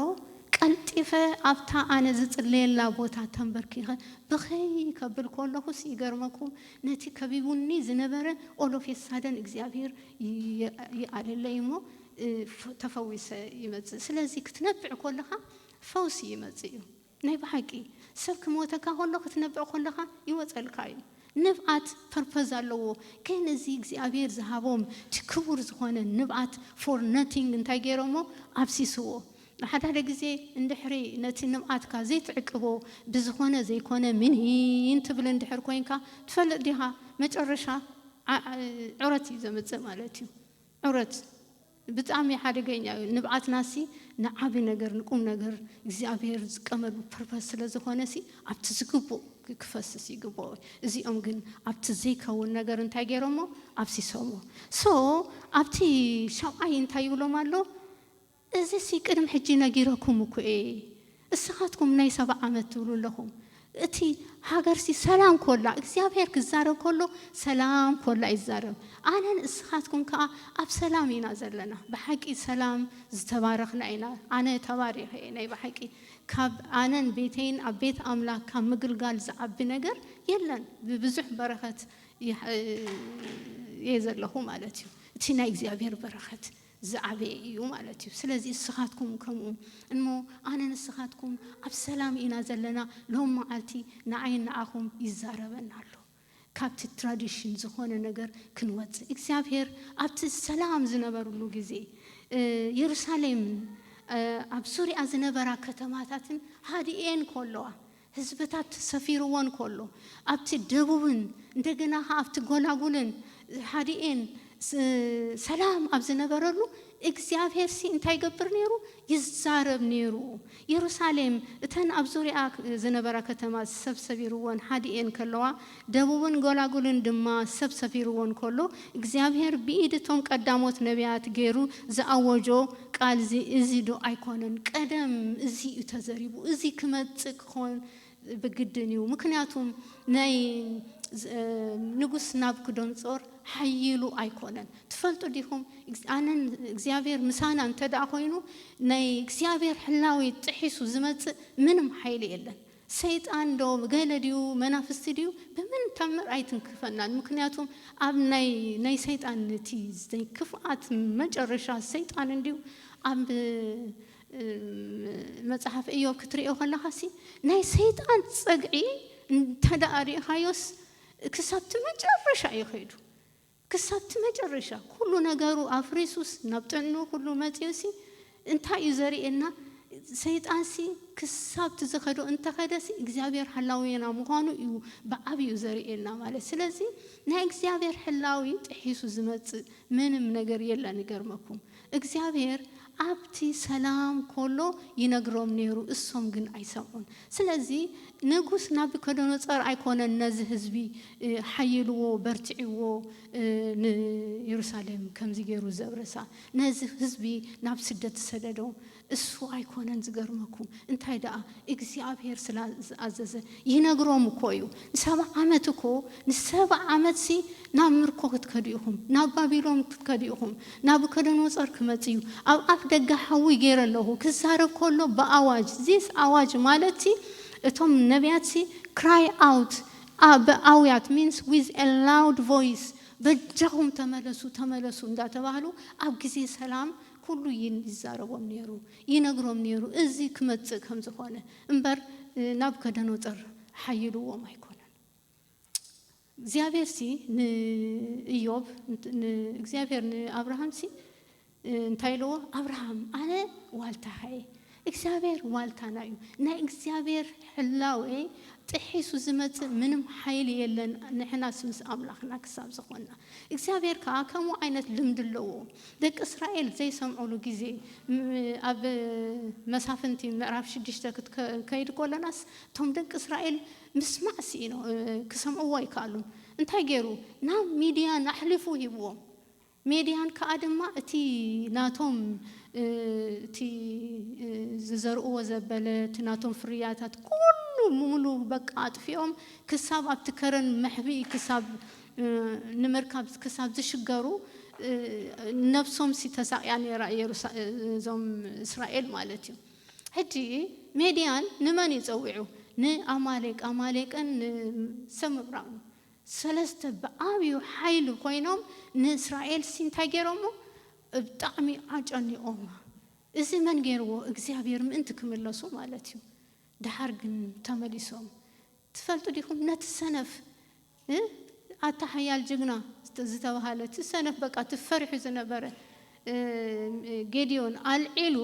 ቀልጢፈ ኣብታ ኣነ ዝጽልየላ ቦታ ተምበርኪኸ ብኽይ ከብል ከለኹስ ይገርመኩም ነቲ ከቢቡኒ ዝነበረ ኦል ኦፍ ኤ ሳደን እግዚኣብሄር ይኣለለይ እሞ ተፈዊሰ ይመጽእ ስለዚ ክትነብዕ ከለኻ ፈውሲ ይመጽእ እዩ። ናይ ብሓቂ ሰብ ክመወተካ ከሎ ክትነብዕ ከለካ ይወጸልካ እዩ ንብዓት ፐርፐዝ ኣለዎ ግን እዚ እግዚኣብሔር ዝሃቦም እቲ ክቡር ዝኮነ ንብዓት ፎር ነቲንግ እንታይ ገይሮሞ ኣፍሲስዎ ሓዳደ ግዜ እንድሕሪ ነቲ ንብዓትካ ዘይትዕቅቦ ብዝኮነ ዘይኮነ ምኒን ትብል እንድሕር ኮይንካ ትፈልጥ ዲካ መጨረሻ ዑረት እዩ ዘምጽእ ማለት እዩ። ዑረት ብጣሚ ሓደገኛ እዩ ንብዓትና ሲ ንዓቢ ነገር ንቁም ነገር እግዚኣብሔር ዝቀመሉ ፐርፐስ ስለ ዝኮነ ሲ ኣብቲ ዝግቡእ ክፈስስ ይግበኦ እዚኦም ግን ኣብቲ ዘይከውን ነገር እንታይ ገይሮሞ ኣብሲሶሞ ሶ ኣብቲ ሻብዓይ እንታይ ይብሎም ኣሎ እዚሲ ቅድሚ ሕጂ ነጊረኩም እኮ እየ እስኻትኩም ናይ ሰባ ዓመት ትብሉ ኣለኹም እቲ ሃገርሲ ሰላም ኮላ እግዚኣብሔር ክዛረብ ኮሎ ሰላም ኮላ እዩ ዝዛረብ ኣነን እስኻትኩም ከኣ ኣብ ሰላም ኢና ዘለና ብሓቂ ሰላም ዝተባረኽና ኢና ኣነ ተባሪኸ እየ ናይ ብሓቂ ካብ ኣነን ቤተይን ኣብ ቤት ኣምላክ ካብ ምግልጋል ዝዓቢ ነገር የለን ብብዙሕ በረኸት እየ ዘለኹ ማለት እዩ እቲ ናይ እግዚኣብሔር በረኸት ዝዓበየ እዩ ማለት እዩ ስለዚ እስኻትኩም ከምኡ እሞ ኣነ ንስኻትኩም ኣብ ሰላም ኢና ዘለና ሎም መዓልቲ ንዓይን ንዓኹም ይዛረበና ኣሎ ካብቲ ትራዲሽን ዝኾነ ነገር ክንወጽእ እግዚኣብሄር ኣብቲ ሰላም ዝነበርሉ ግዜ የሩሳሌምን ኣብ ሱርያ ዝነበራ ከተማታትን ሃዲኤን ኮሎዋ ህዝብታት ሰፊርዎ እንከሎ፣ ኣብቲ ደቡብን እንደገና ኸኣ ኣብቲ ጐላጕልን ሓዲኤን ሰላም ኣብ ዝነበረሉ፣ እግዚኣብሄርሲ እንታይ ይገብር ነይሩ? ይዛረብ ነይሩ። የሩሳሌም እተን ኣብ ዙርያኣ ዝነበራ ከተማ ሰብ ሰቢርወን ሓዲኤን ከለዋ፣ ደቡብን ጐላጕልን ድማ ሰብ ሰፊርዎ እንከሎ፣ እግዚኣብሄር ብኢድ እቶም ቀዳሞት ነብያት ገይሩ ዝኣወጆ ቃል'ዚ እዚዶ ኣይኰነን? ቀደም እዚ እዩ ተዘሪቡ፣ እዚ ክመጽእ ክዀን ብግድን እዩ፣ ምኽንያቱም ናይ ንጉስ ናቡክዶንጾር ሓዪሉ ኣይኰነን። ትፈልጡ ዲኹም፣ ኣነን እግዚኣብሄር ምሳና እንተደኣ ኰይኑ፣ ናይ እግዚኣብሄር ሕላዌ ጥሒሱ ዝመጽእ ምንም ሓይሊ የለን። ሰይጣን ዶ ገለ ድዩ መናፍስቲ ድዩ ብምንም ታምር ኣይትንክፈናን ምክንያቱም ኣብ ናይ ናይ ሰይጣን እቲ ናይ ክፍኣት መጨረሻ ሰይጣን እንድዩ ኣብ መጽሓፍ እዮብ ክትርእዮ ከለኻሲ ናይ ሰይጣን ጸግዒ እንተ ሪኢኻዮስ ክሳብቲ መጨረሻ እዩ ከይዱ ክሳብ እቲ መጨረሻ ኩሉ ነገሩ ኣፍሪሱስ ናብ ጥዕንኡ ኩሉ መጺኡሲ እንታይ እዩ ዘርእየና ሰይጣንሲ ክሳብ እቲ ዝኸዶ እንተኸደሲ እግዚኣብሔር ሐላውየና ምዃኑ እዩ ብዓቢኡ ዘርእየና ማለት ስለዚ ናይ እግዚኣብሔር ሕላዌ ጥሒሱ ዝመጽእ ምንም ነገር የለን ይገርመኩም እግዚኣብሔር ኣብቲ ሰላም ኮሎ ይነግሮም ነሩ እሶም ግን ኣይሰምዑን ስለዚ ነጉስ ናብከዶኖጸር ኣይኮነን ነዚ ህዝቢ ሓይልዎ በርቲዒዎ ንየሩሳሌም ከምዚ ገሩ ዘብረሳ ነዚ ህዝቢ ናብ ስደት ዝሰደዶ እሱ ኣይኮነን ዝገርመኩም እንታይ ደኣ እግዚኣብሔር ስላ ዝኣዘዘ ይነግሮም እኮ እዩ ንሰባ ዓመት እኮ ንሰባ ዓመት ሲ ናብ ምርኮ ክትከዱ ኢኹም ናብ ባቢሎም ክትከዱ ኢኹም ናቡከደኖጾር ክመጽ እዩ ኣብ ኣፍ ደገ ሓዊ ገይረ ኣለኹ ክዛረብ ከሎ ብኣዋጅ ዚስ ኣዋጅ ማለት ሲ እቶም ነብያት ሲ ክራይ ኣውት ብኣውያት ሚንስ ዊዝ ኤ ላውድ ቮይስ በጃኹም ተመለሱ ተመለሱ እንዳተባህሉ ኣብ ግዜ ሰላም ኩሉ ይዛረቦም ነይሩ ይነግሮም ነይሩ እዚ ክመጽእ ከም ዝኾነ እምበር ናቡከደኖጾር ሓይልዎም ኣይኮነን። እግዚኣብሔርሲ ንእዮብ ንእግዚኣብሔር ንኣብርሃምሲ እንታይ ኢልዎ ኣብርሃም ኣነ ዋልታኻ እየ እግዚኣብሔር ዋልታና እዩ ናይ እግዚኣብሔር ሕላዌ ጥሒሱ ዝመጽእ ምንም ሓይሊ የለን ንሕናስ ምስ ኣምላኽና ክሳብ ዝኾንና እግዚኣብሔር ከኣ ከምኡ ዓይነት ልምዲ ኣለዎ ደቂ እስራኤል ዘይሰምዑሉ ግዜ ኣብ መሳፍንቲ ምዕራፍ ሽዱሽተ ክትከይድ ከሎናስ እቶም ደቂ እስራኤል ምስማዕ ስኢኖም ክሰምዕዎ ኣይከኣሉን እንታይ ገይሩ ናብ ሚድያን ኣሕሊፉ ሂብዎም ሜድያን ከኣ ድማ እቲ ናቶም እቲ ዝዘርኡዎ ዘበለ እቲ ናቶም ፍርያታት ኩሉ ምሉ በቃ ኣጥፊኦም ክሳብ ኣብቲ ከረን መሕብኢ ክሳብ ንምርካብ ክሳብ ዝሽገሩ ነብሶምሲ ተሳቕያ ኔራ የሩሳ እዞም እስራኤል ማለት እዩ ሕጂ ሜድያን ንመን እዩ ጸዊዑ ንኣማሌቅ ኣማሌቅን ንሰብ ምብራቕን ሰለስተ ብዓብዩ ሓይሊ ኮይኖም ንእስራኤል ሲ እንታይ ገይሮሞ ብጣዕሚ ኣጨኒቆማ እዚ መን ገይርዎ እግዚኣብሔር ምእንቲ ክምለሱ ማለት እዩ ደሓር ግን ተመሊሶም ትፈልጡ ዲኩም ነቲ ሰነፍ እ ኣታ ሓያል ጅግና ዝተባሃለ እቲ ሰነፍ በቃ እቲ ፈሪሑ ዝነበረ እ ጌዲዮን ኣልዒሉ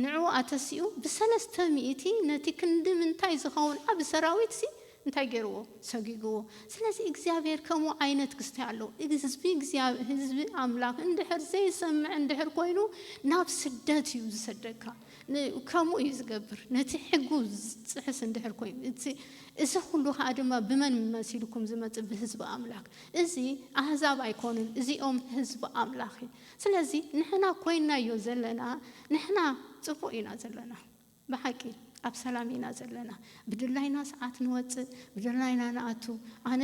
ንዕኡ ኣተሲኡ ብሰለስተ ሚእቲ ነቲ ክንዲ ምንታይ ዝኸውን ዓቢ ሰራዊትሲ እንታይ ገይርዎ? ሰጒግዎ። ስለዚ እግዚኣብሄር ከምኡ ዓይነት ክስታይ ኣለዎ። ህዝቢ እግዚኣብ ህዝቢ ኣምላኽ እንድሕር ዘይሰምዕ እንድሕር ኮይኑ ናብ ስደት እዩ ዝሰደካ። ን ከምኡ እዩ ዝገብር ነቲ ሕጉ ዝጥሕስ እንድሕር ኮይኑ። እቲ እዚ ኩሉ ከኣ ድማ ብመን መሲልኩም ዝመጽእ ብህዝቢ ኣምላክ። እዚ ኣህዛብ ኣይኮኑን እዚኦም ህዝቢ ኣምላኽ እዩ። ስለዚ ንሕና ኮይናዮ ዘለና ንሕና ጽቡቅ ኢና ዘለና ብሓቂ ኣብ ሰላም ኢና ዘለና ብድላይና ሰዓት ንወጽእ ብድላይና ንኣቱ ኣነ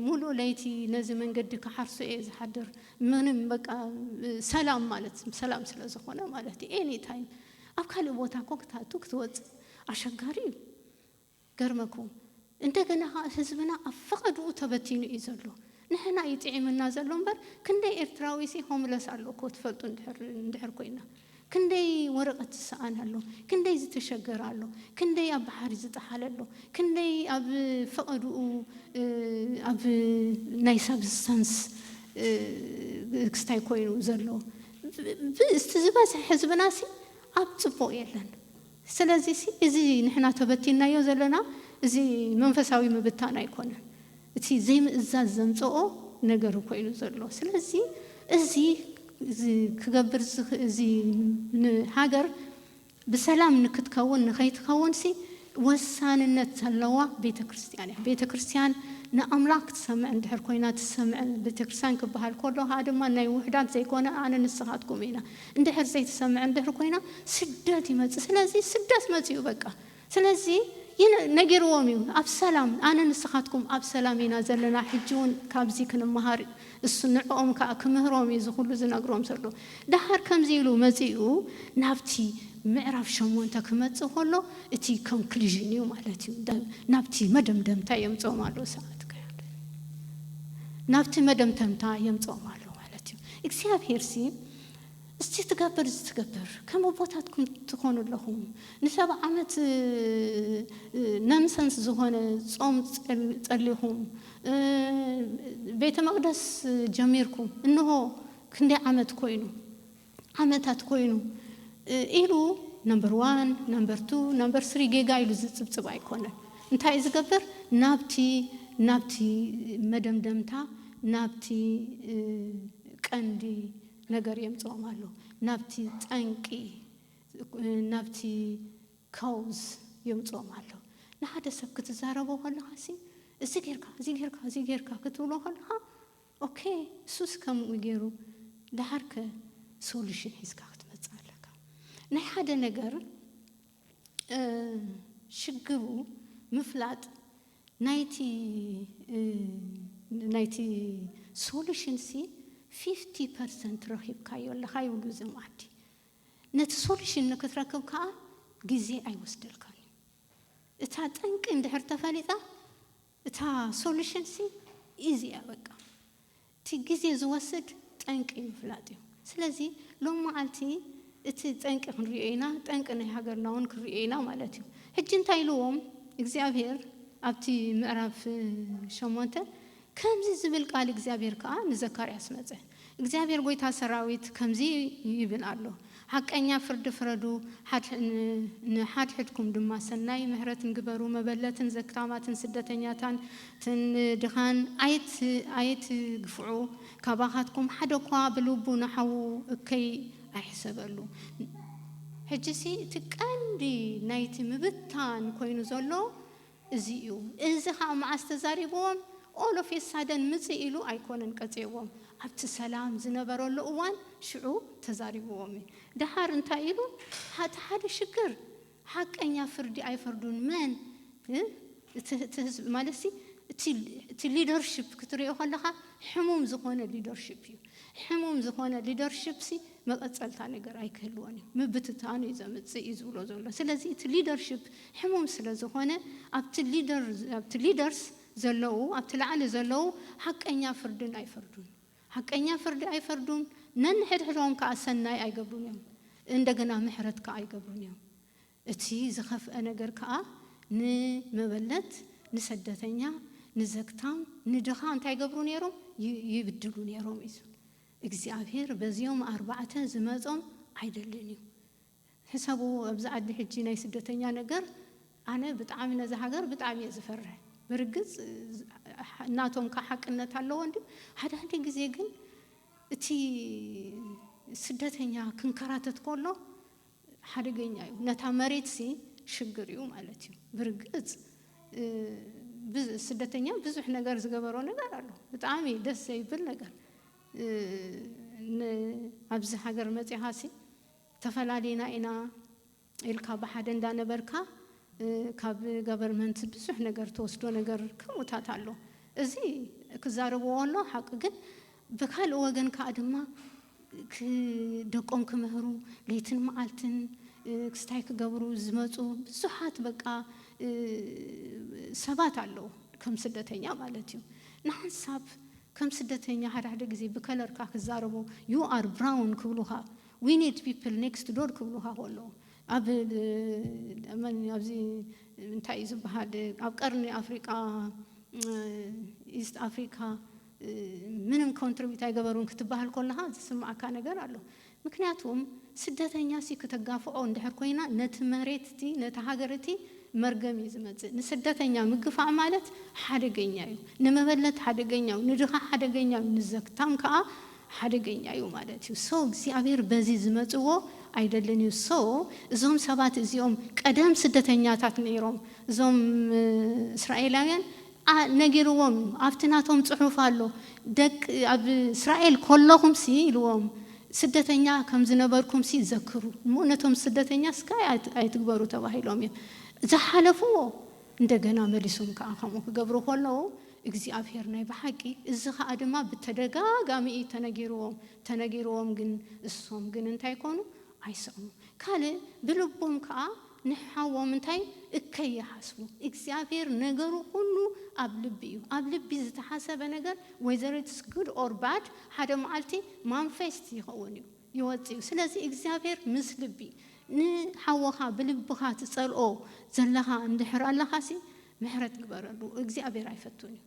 ሙሉእ ለይቲ ነዚ መንገዲ ክሓርሶ እየ ዝሓድር ምንም በቃ ሰላም ማለት ሰላም ስለ ዝኮነ ማለት እዩ ኤኒ ታይም ኣብ ካልእ ቦታ እኮ ክትኣቱ ክትወጽእ ኣሸጋሪ እዩ ገርመኩም እንደገና ከኣ ህዝብና ኣብ ፈቀድኡ ተበቲኑ እዩ ዘሎ ንሕና እዩ ጢዒምና ዘሎ እምበር ክንደይ ኤርትራዊሲ ሆምለስ ኣሎ እኮ ትፈልጡ እንድሕር እንድሕር ኮይና ክንደይ ወረቀት ዝሰኣነ ኣሎ ክንደይ ዝተሸገረ ኣሎ ክንደይ ኣብ ባሕሪ ዝጠሓለ ኣሎ ክንደይ ኣብ ፈቀድኡ ኣብ ናይ ሳብስታንስ ክስታይ ኮይኑ ዘሎ ብ ብእስቲ ዝበዝሐ ህዝብናሲ ኣብ ጽቡቅ የለን። ስለዚሲ እዚ ንሕና ተበቲንናዮ ዘለና እዚ መንፈሳዊ ምብታን ኣይኮነን እቲ ዘይምእዛዝ ዘምጸኦ ነገር ኮይኑ ዘሎ ስለዚ እዚ ክገብር ዝኽእል እዚ ንሃገር ብሰላም ንክትከውን ንከይትከውንሲ ወሳንነት ዘለዋ ቤተክርስትያን እያ ቤተክርስትያን ንኣምላኽ ክትሰምዕ እንድሕር ኮይና ትሰምዕ ቤተክርስትያን ክበሃል ከሎ ከኣ ድማ ናይ ውሑዳት ዘይኮነ ኣነ ንስኻትኩም ኢና እንድሕር ዘይትሰምዕ እንድሕር ኮይና ስደት ይመጽእ ስለዚ ስደት መጺኡ በቃ ስለዚ ነጊርዎም እዩ ኣብ ሰላም ኣነ ንስኻትኩም ኣብ ሰላም ኢና ዘለና ሕጂ ውን ካብዚ ክንመሃር እሱ ንዕኦም ከኣ ክምህሮም እዩ እዚ ኩሉ ዝነግሮም ዘሎ ደሓር ከምዚ ኢሉ መጺኡ ናብቲ ምዕራፍ ሸሞንተ ክመጽእ ከሎ እቲ ኮንክሉዥን እዩ ማለት እዩ ናብቲ መደምደምታ የምጽኦም ኣሎ ሰዓት ናብቲ መደምተምታ የምጽኦም ኣሎ ማለት እዩ እግዚኣብሄርሲ እስቲ ትገብር እዚ ትገብር ከም ኣቦታትኩም ትኮኑ ኣለኹም ንሰብ ዓመት ነንሰንስ ዝኾነ ጾም ጸሊኹም ቤተ መቅደስ ጀሚርኩም እንሆ ክንደይ ዓመት ኮይኑ ዓመታት ኮይኑ ኢሉ ነምበር ዋን ነምበር ቱ ነምበር ስሪ ጌጋ ኢሉ ዝጽብጽብ ኣይኮነን እንታይ እዩ ዝገብር ናብቲ ናብቲ መደምደምታ ናብቲ ቀንዲ ነገር የምጽኦም ኣሎ። ናብቲ ጠንቂ፣ ናብቲ Cause፣ የምጽኦም ኣሎ። ንሓደ ሰብ ክትዛረቦ ከለኻሲ እዚ ጌርካ፣ እዚ ጌርካ፣ እዚ ጌርካ ክትብሎ ከለኻ ኦኬ እሱስ ከምኡ ጌሩ ደሓርከ Solution ሒዝካ ክትመጽእ ኣለካ። ናይ ሓደ ነገር። ሽግሩ ምፍላጥ ናይቲ ናይቲ ሶሉሽን ሲ ፊፍቲ ፐርሰንት ረኺብካዮ ኣለኻ ይብሉ እዞም ዓዲ ነቲ ሶሉሽን ንክትረክብ ከዓ ግዜ ኣይወስደልካን እዩ እታ ጠንቂ እንድሕር ተፈሊጣ እታ ሶሉሽን ሲ ኢዚ እያ በቃ እቲ ግዜ ዝወስድ ጠንቂ ምፍላጥ እዩ ስለዚ ሎም መዓልቲ እቲ ጠንቂ ክንሪኦ ኢና ጠንቂ ናይ ሃገርና ውን ክንሪኦ ኢና ማለት እዩ ሕጂ እንታይ ኢልዎም እግዚኣብሄር ኣብቲ ምዕራፍ ሸሞንተ ከምዚ ዝብል ቃል እግዚኣብሄር ከኣ ንዘካርያስ መጸ እግዚኣብሄር ጐይታ ሰራዊት ከምዚ ይብል ኣሎ፣ ሓቀኛ ፍርዲ ፍረዱ፣ ንሓድሕድኩም ድማ ሰናይ ምሕረትን ግበሩ፣ መበለትን ዘክታማትን ስደተኛታትን ድኻን ኣይትግፍዑ፣ ካባኻትኩም ሓደ'ኳ ብልቡ ንሓዉ እከይ ኣይሕሰበሉ። ሕጂሲ እቲ ቀንዲ ናይቲ ምብታን ኰይኑ ዘሎ፣ እዚ እዩ እዚ ከኣ መዓስ ተዛሪብዎም all of a sudden ምጽእ ኢሉ ኣይኮነን ቀጺዕዎም ኣብቲ ሰላም ዝነበረሉ እዋን ሽዑ ተዛሪብዎም እዩ ደሓር እንታይ ኢሉ እቲ ሓደ ሽግር ሓቀኛ ፍርዲ ኣይፈርዱን መን እቲ እቲ ህዝቢ ማለትሲ እቲ እቲ leadership ክትሪኦ ከለኻ ሕሙም ዝኾነ leadership እዩ ሕሙም ዝኾነ leadership ሲ መቐጸልታ ነገር ኣይክህልዎን እዩ ምብትታን እዩ ዘምጽእ እዩ ዝብሎ ዘሎ ስለዚ እቲ leadership ሕሙም ስለ ዝኾነ ኣብቲ ሊደር ኣብቲ Leaders ዘለዉ ኣብቲ ላዕሊ ዘለዉ ሓቀኛ ፍርድን ኣይፈርዱን ሓቀኛ ፍርዲ ኣይፈርዱን ነንሕድሕዶም ከኣ ሰናይ ኣይገብሩን እዮም እንደገና ምሕረት ከኣ ኣይገብሩን እዮም እቲ ዝኸፍኣ ነገር ከኣ ንመበለት ንሰደተኛ ንዘግታም ንድኻ እንታይ ይገብሩ ኔሮም ይብድሉ ኔሮም እዩ እግዚኣብሄር በዚኦም ኣርባዕተ ዝመጾም ኣይደልን እዩ ሕሰቡ ኣብዚ ዓዲ ሕጂ ናይ ስደተኛ ነገር ኣነ ብጣዕሚ ነዛ ሃገር ብጣዕሚ እየ ዝፈርሕ ብርግጽ ናቶም ካኣ ሓቅነት ኣለዎ እንድዩ ሓደ ሓደ ግዜ ግን እቲ ስደተኛ ክንከራተት ኮሎ ሓደገኛ እዩ ነታ መሬትሲ ሽግር እዩ ማለት እዩ ብርግጽ ስደተኛ ብዙሕ ነገር ዝገበሮ ነገር ኣሎ ብጣዕሚ ደስ ዘይብል ነገር ን ኣብዚ ሃገር መጺኻሲ ተፈላሊና ኢና ኢልካ ብሓደ እንዳ ነበርካ ካብ ገቨርመንት ብዙሕ ነገር ትወስዶ ነገር ከምኡታት ኣሎ እዚ ክዛረብዎ ኣሎ ሓቂ ግን ብካልእ ወገን ካኣ ድማ ደቆም ክምህሩ ለይትን ማዓልትን ክስታይ ክገብሩ ዝመጹ ብዙሓት በቃ ሰባት ኣለዉ ከም ስደተኛ ማለት እዩ ንሓንሳብ ከም ስደተኛ ሓደ ሓደ ግዜ ብከለርካ ክዛረቡ you are brown ክብሉኻ We need people next door ክብሉኻ ከለዉ ኣብ መን ኣብዚ እንታይ እዩ ዝበሃል ኣብ ቀርኒ ኣፍሪቃ ኢስት ኣፍሪካ ምንም ኮንትሪቢዩት ኣይገበሩን ክትበሃል ከለኻ ዝስምዓካ ነገር ኣሎ። ምክንያቱም ስደተኛ ሲ ክተጋፍዖ እንድሕር ኮይና ነቲ መሬት እቲ ነቲ ሃገር እቲ መርገም እዩ ዝመጽእ። ንስደተኛ ምግፋዕ ማለት ሓደገኛ እዩ። ንመበለት ሓደገኛ እዩ። ንድኻ ሓደገኛ እዩ። ንዘግታም ከኣ ሓደገኛ እዩ ማለት እዩ so እግዚኣብሔር በዚ ዝመጽዎ ኣይደልን እዩ so እዞም ሰባት እዚኦም ቀደም ስደተኛታት ነይሮም እዞም እስራኤላውያን a ነጊርዎም እዩ ኣብቲ ናቶም ጽሑፍ ኣሎ ደቂ ኣብ እስራኤል ኮሎኹምሲ ኢልዎም ስደተኛ ከም ዝነበርኩምሲ ዘክሩ እሞ ነቶም ስደተኛ እስከ ኣይትግበሩ ተባሂሎም እዮም ዝሓለፍዎ እንደገና መሊሶም ከኣ ከምኡ ክገብሩ ኮሎዉ እግዚኣብሄር ናይ ብሓቂ እዚ ከኣ ድማ ብተደጋጋሚ እዩ ተነጊርዎም ተነጊርዎም ግን እሶም ግን እንታይ ኮኑ ኣይሰሙ ካልእ ብልቦም ከኣ ንሓዎም እንታይ እከይ ይሓስቡ እግዚኣብሄር ነገሩ ኩሉ ኣብ ልቢ እዩ ኣብ ልቢ ዝተሓሰበ ነገር whether it's good or bad ሓደ መዓልቲ ማንፌስት ይኸውን እዩ ይወጽእ እዩ ስለዚ እግዚኣብሄር ምስ ልቢ ንሓወኻ ብልብኻ ትጸልኦ ዘለኻ እንድሕር ኣለኻሲ ምሕረት ግበረሉ እግዚኣብሔር ኣይፈቱን እዩ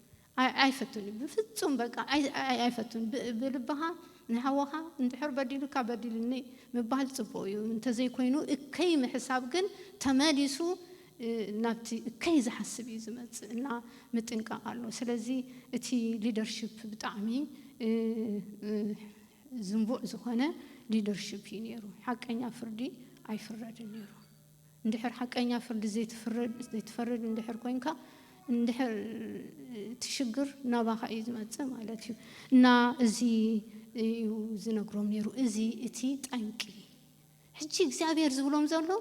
ኣይፈቱን እዩ ብፍጹም በቃ ኣይፈቱን ብልብኻ ንሓወኻ እንድሕር በዲሉካ በዲልኒ ምባል ጽቡቅ እዩ እንተዘይኮይኑ እከይ ምሕሳብ ግን ተመሊሱ ናብቲ እከይ ዝሓስብ እዩ ዝመጽእ እና ምጥንቃቅ ኣሎ ስለዚ እቲ ሊደርሺፕ ብጣዕሚ ዝንቡዕ ዝኾነ ሊደርሺፕ እዩ ነይሩ ሓቀኛ ፍርዲ ኣይፍረድን ነይሩ እንድሕር ሓቀኛ ፍርዲ ዘይትፈርድ እንድሕር ኮይንካ እንድሕር እቲ ሽግር ናባኻ እዩ ዝመፅእ ማለት እዩ እና እዚ እዩ ዝነግሮም ነይሩ እዚ እቲ ጠንቂ ሕጂ እግዚኣብሔር ዝብሎም ዘሎ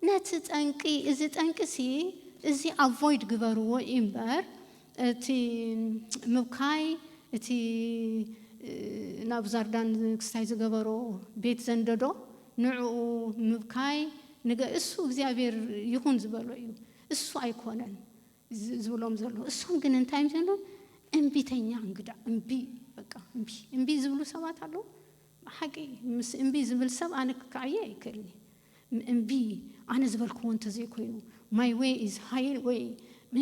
ነቲ ጠንቂ እዚ ጠንቂ ሲ እዚ ኣቮይድ ግበርዎ እምበር እቲ ምብካይ እቲ ናብ ዛርዳን ክስታይ ዝገበሮ ቤት ዘንደዶ ንዕኡ ምብካይ ንገ እሱ እግዚኣብሔር ይኹን ዝበሎ እዩ እሱ ኣይኮነን ዝብሎም ዘሎ እሶም ግን እንታይ እም ዘሎም እምቢተኛ እንግዳ እምቢ በቃ እምቢ እምቢ ዝብሉ ሰባት ኣለዉ ሓቂ ምስ እምቢ ዝብል ሰብ ኣነ ክከዓየ ኣይክእልኒ እምቢ ኣነ ዝበልክዎ እንተዘይኮይኑ ማይ ወይ ኢዝ ሃይ ወይ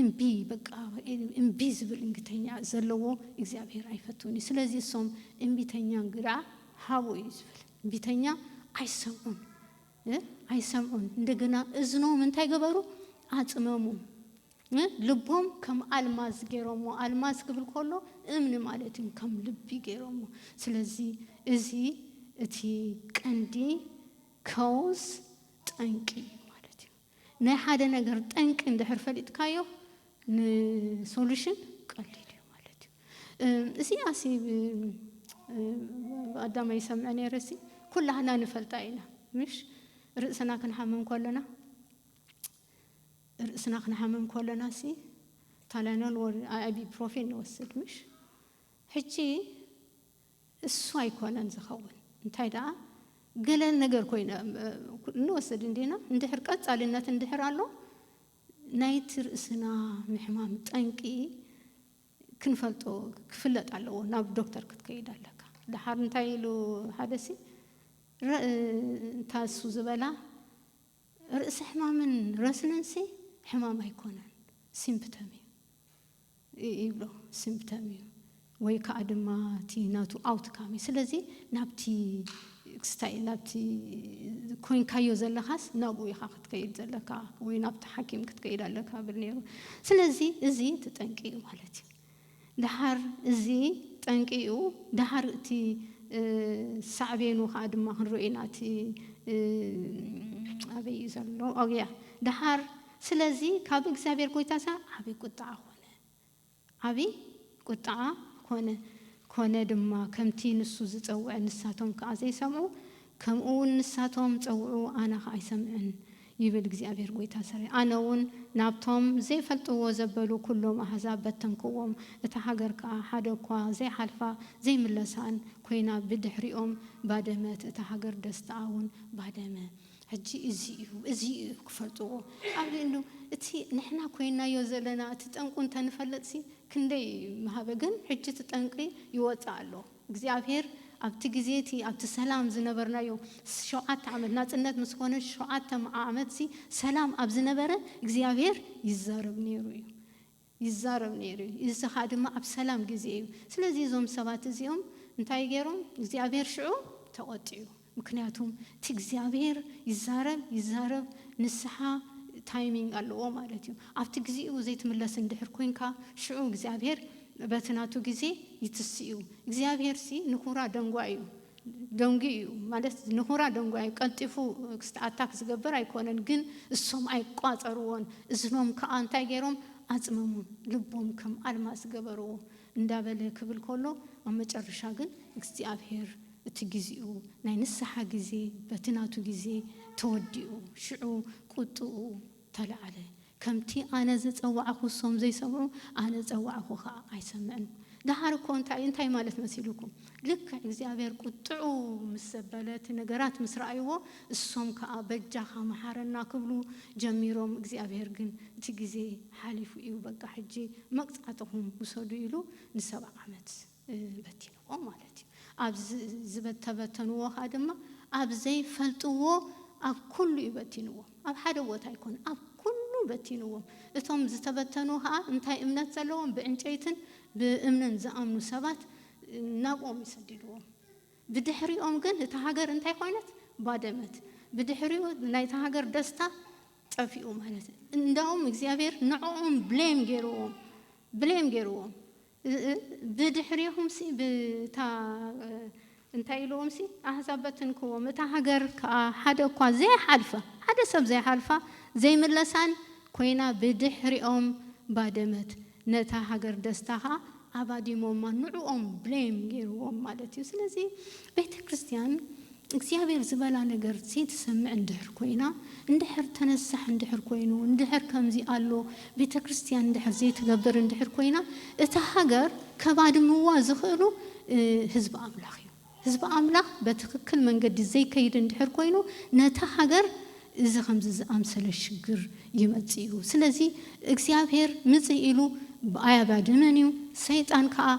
እምቢ በቃ እምቢ ዝብል እንግተኛ ዘለዎ እግዚኣብሔር ኣይፈትውኒ ስለዚ እሶም እምቢተኛ እንግዳ ሃቡ እዩ ዝብል ትንቢተኛ ኣይሰምዑን እ ኣይሰምዑን እንደገና እዝኖም እንታይ ገበሩ ኣጽመሙ እ ልቦም ከም ኣልማዝ ገይሮሞ ኣልማዝ ክብል ከሎ እምኒ ማለት እዩ ከም ልቢ ገይሮሞ ስለዚ እዚ እቲ ቀንዲ ከውስ ጠንቂ እዩ ማለት እዩ ናይ ሓደ ነገር ጠንቂ እንድሕር ፈሊጥካዮ ንሶሉሽን ቀሊል እዩ ማለት እዩ። እዚኣ ሲ ብቀዳማይ ይሰምዐ ነይረ ሲ ኩላህና ንፈልጣ ኢና ምሽ ርእስና ክንሓምም ከሎና ርእስና ክንሓምም ከሎና ሲ ታላኖል ወር ኣይቢፕሮፌን ንወስድ ምሽ ሕጂ እሱ ኣይኮነን ዝኸውን እንታይ ደኣ ገለ ነገር ኮይነ ንወስድ እንዲና እንድሕር ቀጻሊነት እንድሕር ኣሎ ናይቲ ርእስና ምሕማም ጠንቂ ክንፈልጦ ክፍለጥ ኣለዎ ናብ ዶክተር ክትከይድ ኣለካ ደሓር እንታይ ኢሉ ሓደሲ እታ እሱ ዝበላ ርእሰ ሕማምን ረስንንሲ ሕማም ኣይኮነን ሲምፕተም እዩ ይብሎ ሲምፕተም እዩ ወይ ከዓ ድማ እቲ ናቱ ኣውትካም እዩ ስለዚ ናብቲ ክስታይ ናብቲ ኮይንካዮ ዘለኻስ ናብኡ ኢኻ ክትከይድ ዘለካ ወይ ናብቲ ሓኪም ክትከይድ ኣለካ ብል ነይሩ ስለዚ እዚ ትጠንቂ እዩ ማለት እዩ ደሓር እዚ ጠንቂ'ዩ፣ ደሓር እቲ ሳዕቤኑ ከኣ ድማ ክንሪኦ ኢና፣ እቲ ኣበይ'ዩ ዘሎ፣ ኦው ያ ደሓር ስለዚ ካብ እግዚኣብሄር ጐይታሰ ዓቢ ቍጥዓ ኰነ፣ ዓቢ ቍጥዓ ኰነ፣ ኰነ ድማ ከምቲ ንሱ ዝጸውዐ ንሳቶም ከኣ ዘይሰምዑ፣ ከምኡውን ንሳቶም ጸውዑ ኣነ ኸኣ ኣይሰምዕን ይብል እግዚኣብሄር ጐይታ ሰራዊት። ኣነውን ናብቶም ዘይፈልጥዎ ዘበሉ ኵሎም ኣህዛብ በተንክዎም፣ እታ ሃገር ከኣ ሓደ እኳ ዘይሓልፋ ዘይምለሳን ኰይና ብድሕሪኦም ባደመት፣ እታ ሃገር ደስትኣውን ባደመ። ሕጂ እዚ እዩ፣ እዚ እዩ ክፈልጥዎ ኣብ ልዕሉ እቲ ንሕና ኰይንናዮ ዘለና እቲ ጠንቁ እንተ ንፈልጥሲ ክንደይ ምሃበ፣ ግን ሕጂ እቲ ጠንቂ ይወጽእ ኣሎ። እግዚኣብሄር ኣብቲ ግዜ እቲ ኣብቲ ሰላም ዝነበርናዮ ሸውዓተ ዓመት ናጽነት ምስ ኮነ ሸውዓተ ዓመትሲ ሰላም ኣብ ዝነበረ እግዚኣብሄር ይዛረብ ነይሩ እዩ ይዛረብ ነይሩ እዩ እዚ ከኣ ድማ ኣብ ሰላም ግዜ እዩ ስለዚ እዞም ሰባት እዚኦም እንታይ ገይሮም እግዚኣብሄር ሽዑ ተቖጢዑ ምክንያቱ እቲ እግዚኣብሔር ይዛረብ ይዛረብ ንስሓ ታይሚንግ ኣለዎ ማለት እዩ ኣብቲ ግዚኡ ዘይትምለስ እንድሕር ኮንካ ሽዑ እግዚኣብሔር በቲ ናቱ ግዜ ይትስእ እዩ እግዚኣብሔር ሲ ንኩራ ደንጓይ እዩ ደንጉዩ እዩ ማለት ንኩራ ደንጓይ እዩ ቀልጢፉ ክስቲ ኣታክ ዝገብር ኣይኮነን ግን እሶም ኣይቋጸርዎን እዝኖም ክኣ እንታይ ገሮም ኣጽመሙን ልቦም ከም ኣልማስ ገበርዎ እንዳበለ ክብል ከሎ ኣብ መጨረሻ ግን እግዚኣብሄር እቲ ግዜኡ ናይ ንስሓ ግዜ በቲ ናቱ ግዜ ተወዲኡ ሽዑ ቁጥኡ ተላዕለ ከምቲ ኣነ ዝጸዋዕኩ እሶም ዘይሰምዑ ኣነ ዝጸዋዕኩ ከኣ ኣይሰምዕን ደሓር እኮ እንታይ እዩ እንታይ ማለት መሲሉኩም ልክዕ እግዚኣብሄር ቁጥዑ ምስ ዘበለ እቲ ነገራት ምስ ረኣይዎ እሶም ከኣ በጃኻ መሓረና ክብሉ ጀሚሮም እግዚኣብሄር ግን እቲ ግዜ ሓሊፉ እዩ በቃ ሕጂ መቅጻዕትኹም ውሰዱ ኢሉ ንሰብዓ ዓመት በቲንዎም ማለት እዩ ኣብ ዝተበተንዎ ከኣ ድማ ኣብ ዘይፈልጥዎ ኣብ ኩሉ እዩ በቲንዎም ኣብ ሓደ ቦታ ኣይኮነን ኣብ ኩሉ በቲንዎም እቶም ዝተበተኑ ከኣ እንታይ እምነት ዘለዎም ብዕንጨይትን ብእምንን ዝኣምኑ ሰባት ናብኦም እዩ ሰዲድዎም ብድሕሪኦም ግን እታ ሃገር እንታይ ኮይነት ባደመት ብድሕሪኡ ናይታ ሃገር ደስታ ጠፊኡ ማለት እንዳውም እግዚኣብሔር ንዕኦም ብሌም ገይርዎም ብሌም ገይርዎም ብድሕሬኹምሲ ብታ እንታይ ኢልዎምሲ ኣሕዛብ በትንክዎም እታ ሃገር ከኣ ሓደ እኳ ዘይሓልፋ ሓደ ሰብ ዘይሓልፋ ዘይምለሳን ኮይና ብድሕሪኦም ባደመት ነታ ሃገር ደስታ ከኣ ኣባዲሞማ ንዕኦም blame ጌርዎም ማለት እዩ ስለዚ ቤተ ክርስትያን እግዚኣብሔር ዝበላ ነገር ዘይትሰምዕ እንድሕር ኮይና እንድሕር ተነሳሕ እንድሕር ኮይኑ እንድሕር ከምዚ ኣሎ ቤተ ክርስትያን እንድሕር ዘይትገብር እንድሕር ኮይና እታ ሃገር ከባድምዋ ዝኽእሉ ህዝቢ ኣምላኽ እዩ። ህዝቢ ኣምላኽ በትክክል መንገዲ ዘይከይድ እንድሕር ኮይኑ ነታ ሃገር እዚ ከምዚ ዝኣምሰለ ሽግር ይመጽእ እዩ ስለዚ እግዚኣብሔር ምጽእ ኢሉ ኣያጋድምን እዩ ሰይጣን ከኣ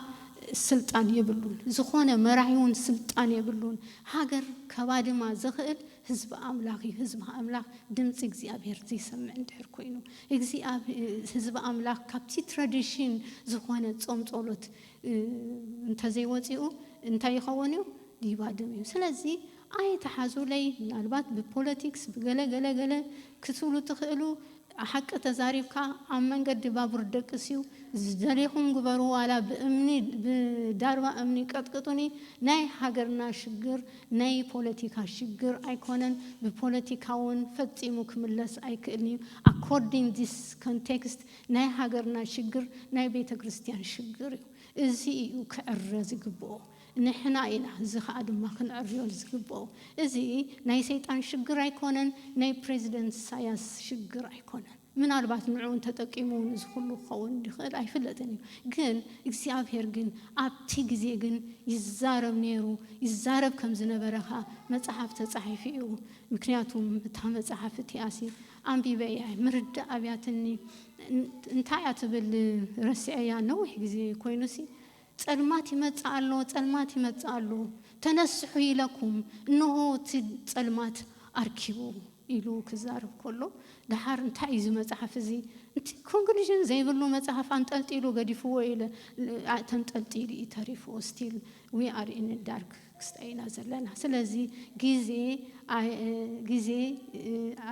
ስልጣን የብሉን ዝኾነ መራሒ እውን ስልጣን የብሉን ሃገር ከባድማ ዘኽእል ህዝቢ ኣምላኽ እዩ ህዝቢ ኣምላኽ ድምጺ እግዚኣብሔር ዘይሰምዕ እንድሕር ኮይኑ ህዝቢ ኣምላኽ ካብቲ ትራዲሽን ዝኾነ ጾም ጾሎት እንተዘይወጺኡ እንታይ ይኸውን እዩ ይባድም እዩ ስለዚ ኣይትሓዙለይ ምናልባት ብፖለቲክስ ብገለ ገለ ገለ ክትብሉ ትኽእሉ ሓቂ ተዛሪብካ ኣብ መንገዲ ባቡር ደቅስ እዩ ዝደሌኹም ግበሩ ዋላ ብእምኒ ብዳርባ እምኒ ቀጥቅጡኒ ናይ ሃገርና ሽግር ናይ ፖለቲካ ሽግር ኣይኮነን ብፖለቲካ ውን ፈጺሙ ክምለስ ኣይክእልን እዩ ኣኮርዲንግ ዲስ ኮንቴክስት ናይ ሃገርና ሽግር ናይ ቤተ ክርስትያን ሽግር እዩ። እዚ እዩ ክዕረ ዝግብኦ። ንሕና ኢና እዚ ከኣ ድማ ክንዕርዮ ዝግብኦ። እዚ ናይ ሰይጣን ሽግር ኣይኮነን ናይ ፕረዚደንት ኢሳያስ ሽግር ኣይኮነን። ምናልባት ንዑ እንተጠቂሙ እውን እዚ ኩሉ ክኸውን ይኽእል ኣይፍለጥን እዩ። ግን እግዚኣብሔር ግን ኣብቲ ግዜ ግን ይዛረብ ነይሩ ይዛረብ ከም ዝነበረ ከኣ መጽሓፍ ተጻሒፉ እዩ። ምክንያቱም እታ መጽሓፍ እቲኣሲ ኣንቢበ እየ ምርዳእ ኣብያትኒ እንታይ እያ ትብል ረሲዐያ ነዊሕ ግዜ ኮይኑሲ ጸልማት ይመጽእ ኣሎ ጸልማት ይመጽእ ኣሎ ተነስሑ ኢለኩም እነሆ እቲ ጸልማት ኣርኪቡ ኢሉ ክዛረብ ከሎ ደሓር እንታይ እዩ እዚ መጽሓፍ እዚ እቲ ኮንክሉዥን ዘይብሉ መጽሓፍ ኣንጠልጢሉ ገዲፍዎ ኢለ ተንጠልጢሉ እዩ ተሪፉ ስቲል ዊ ኣር ኢን ዳርክ ክስታይ ኢና ዘለና ስለዚ ግዜ ግዜ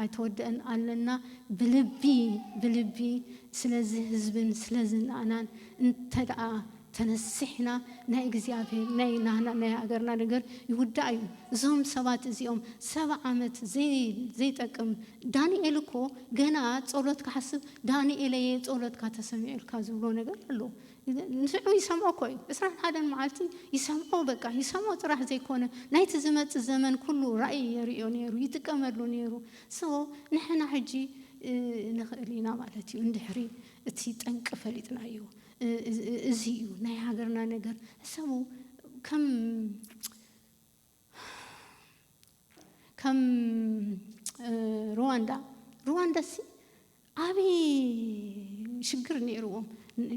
ኣይተወደእን ኣለና ብልቢ ብልቢ ስለዚ ህዝብን ስለዚ ናኣናን እንተደኣ ተነሲሕና ናይ እግዚኣብሔር ናይ ናህና ናይ ሃገርና ነገር ይውዳእ እዩ እዞም ሰባት እዚኦም ሰባ ዓመት ዘይጠቅም ዳንኤል እኮ ገና ጸሎት ክሓስብ ዳንኤለየ ጸሎትካ ተሰሚዑልካ ዝብሎ ነገር ኣሎ ንስዑ ይሰምዖ እኮ እዩ ዕስራን ሓደን መዓልቲ ይሰምዖ በቃ ይሰምዖ ጥራሕ ዘይኮነ ናይቲ ዝመጽእ ዘመን ኩሉ ራኢ የርእዮ ኔሩ ይጥቀመሉ ኔሩ so ንሕና ሕጂ ንኽእል ኢና ማለት እዩ እንድሕሪ እቲ ጠንቂ ፈሊጥናዮ እዚ እዩ ናይ ሃገርና ነገር ሕሰቡ ከም ከም ሩዋንዳ ሩዋንዳ ሲ ዓብዪ ሽግር ነይርዎም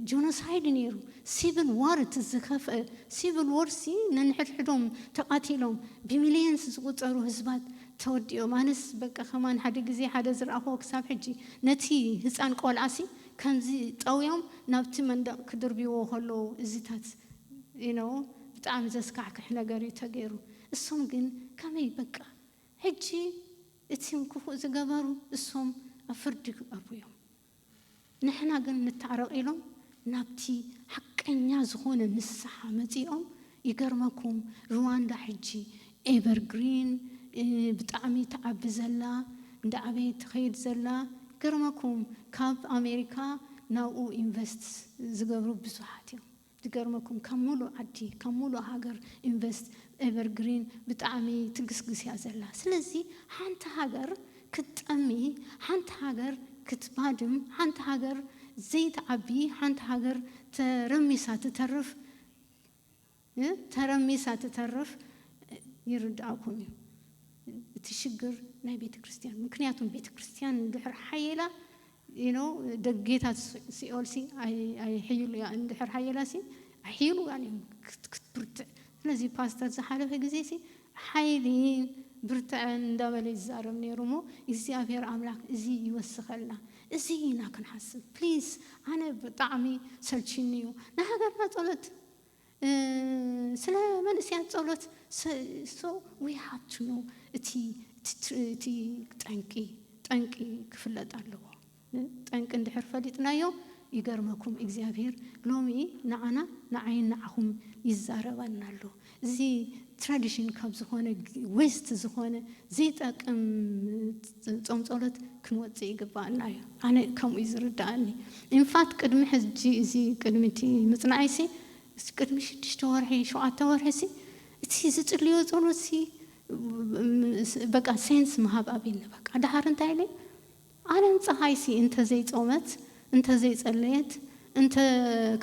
ጆኖሳይድ ነይሩ ሲቪል ዋር እቲ ዝኸፍአ ሲቪል ዋር ሲ ነንሕድሕዶም ተቓቲሎም ብሚልየንስ ዝቑፀሩ ህዝባት ተወዲኦም ኣነስ በቃ ከማን ሓደ ግዜ ሓደ ዝረኣኹዎ ክሳብ ሕጂ ነቲ ህፃን ቆልዓሲ ከምዚ ጠውዮም ናብቲ መንደቕ ክድርብዎ ከለዉ እዚታት you know ብጣዕሚ ዘስካሕክሕ ነገር እዩ ተገይሩ እሶም ግን ከመይ በቃ ሕጂ እቲም ክፉእ ዝገበሩ እሶም ኣብ ፍርዲ ክቀርቡ እዮም ንሕና ግን ንታዕረቅ ኢሎም ናብቲ ሓቀኛ ዝኮነ ንስሓ መጺኦም ይገርመኩም ርዋንዳ ሕጂ ኤቨር ግሪን ብጣዕሚ ትዓቢ ዘላ እንዳዓበየት ትከይድ ዘላ ይገርመኩም ካብ ኣሜሪካ ናብኡ ኢንቨስት ዝገብሩ ብዙሓት እዮም ዝገርመኩም ካብ ሙሉእ ዓዲ ካብ ሙሉእ ሃገር ኢንቨስት ኤቨር ግሪን ብጣዕሚ ትግስግስ እያ ዘላ ስለዚ ሓንቲ ሃገር ክትጠሚ ሓንቲ ሃገር ክትባድም ሓንቲ ሃገር ዘይትዓቢ ሓንቲ ሃገር ተረሚሳ ትተርፍ እ ተረሚሳ ትተርፍ ይርድኣኩም እዩ እቲ ሽግር ናይ ቤተክርስትያን ምክንያቱም ቤተክርስትያን እንድሕር ሓይላ you know ደጌታት ሲኦል ሲ ኣይሕይሉ እያ እንድሕር ሃየላ ሲ ኣይሕይሉ እያ እዩ ክትብርትዕ ስለዚ ፓስተር ዝሓለፈ ግዜ ሲ ሓይሊን ብርትዐን እንዳበለ ይዛረብ ነይሩ እሞ እግዚኣብሔር ኣምላክ እዚ ይወስኸልና እዚ ኢና ክንሓስብ ፕሊስ ኣነ ብጣዕሚ ሰልቺኒ እዩ ንሃገርና ጸሎት ስለ መንእሰያት ጸሎት so we have to know እቲ እቲ ጠንቂ ጠንቂ ክፍለጥ ኣለዎ ጠንቂ እንድሕር ፈሊጥናዮ ይገርመኩም እግዚኣብሄር ሎሚ ንዓና ንዓይን ንዓኹም ይዛረበና ኣሎ እዚ ትራዲሽን ካብ ዝኾነ ዌስት ዝኾነ ዘይጠቅም ጾም ጸሎት ክንወጽእ ይግባኣና እዩ ኣነ ከምኡ እዩ ዝርዳኣኒ ኢንፋት ቅድሚ ሕጂ እዚ ቅድሚ እቲ ምጽናዕይ ሲ እስቲ ቅድሚ ሽዱሽተ ወርሒ ሸውዓተ ወርሒ ሲ እቲ ዝጽልዮ ጸሎት ሲ በቃ ሴንስ ምሃብ ኣቢኒ በቃ ደሃር እንታይ ኢለ ኣለም ጸሃይ ሲ እንተ ዘይ ጾመት እንተ ዘይ ጸለየት እንተ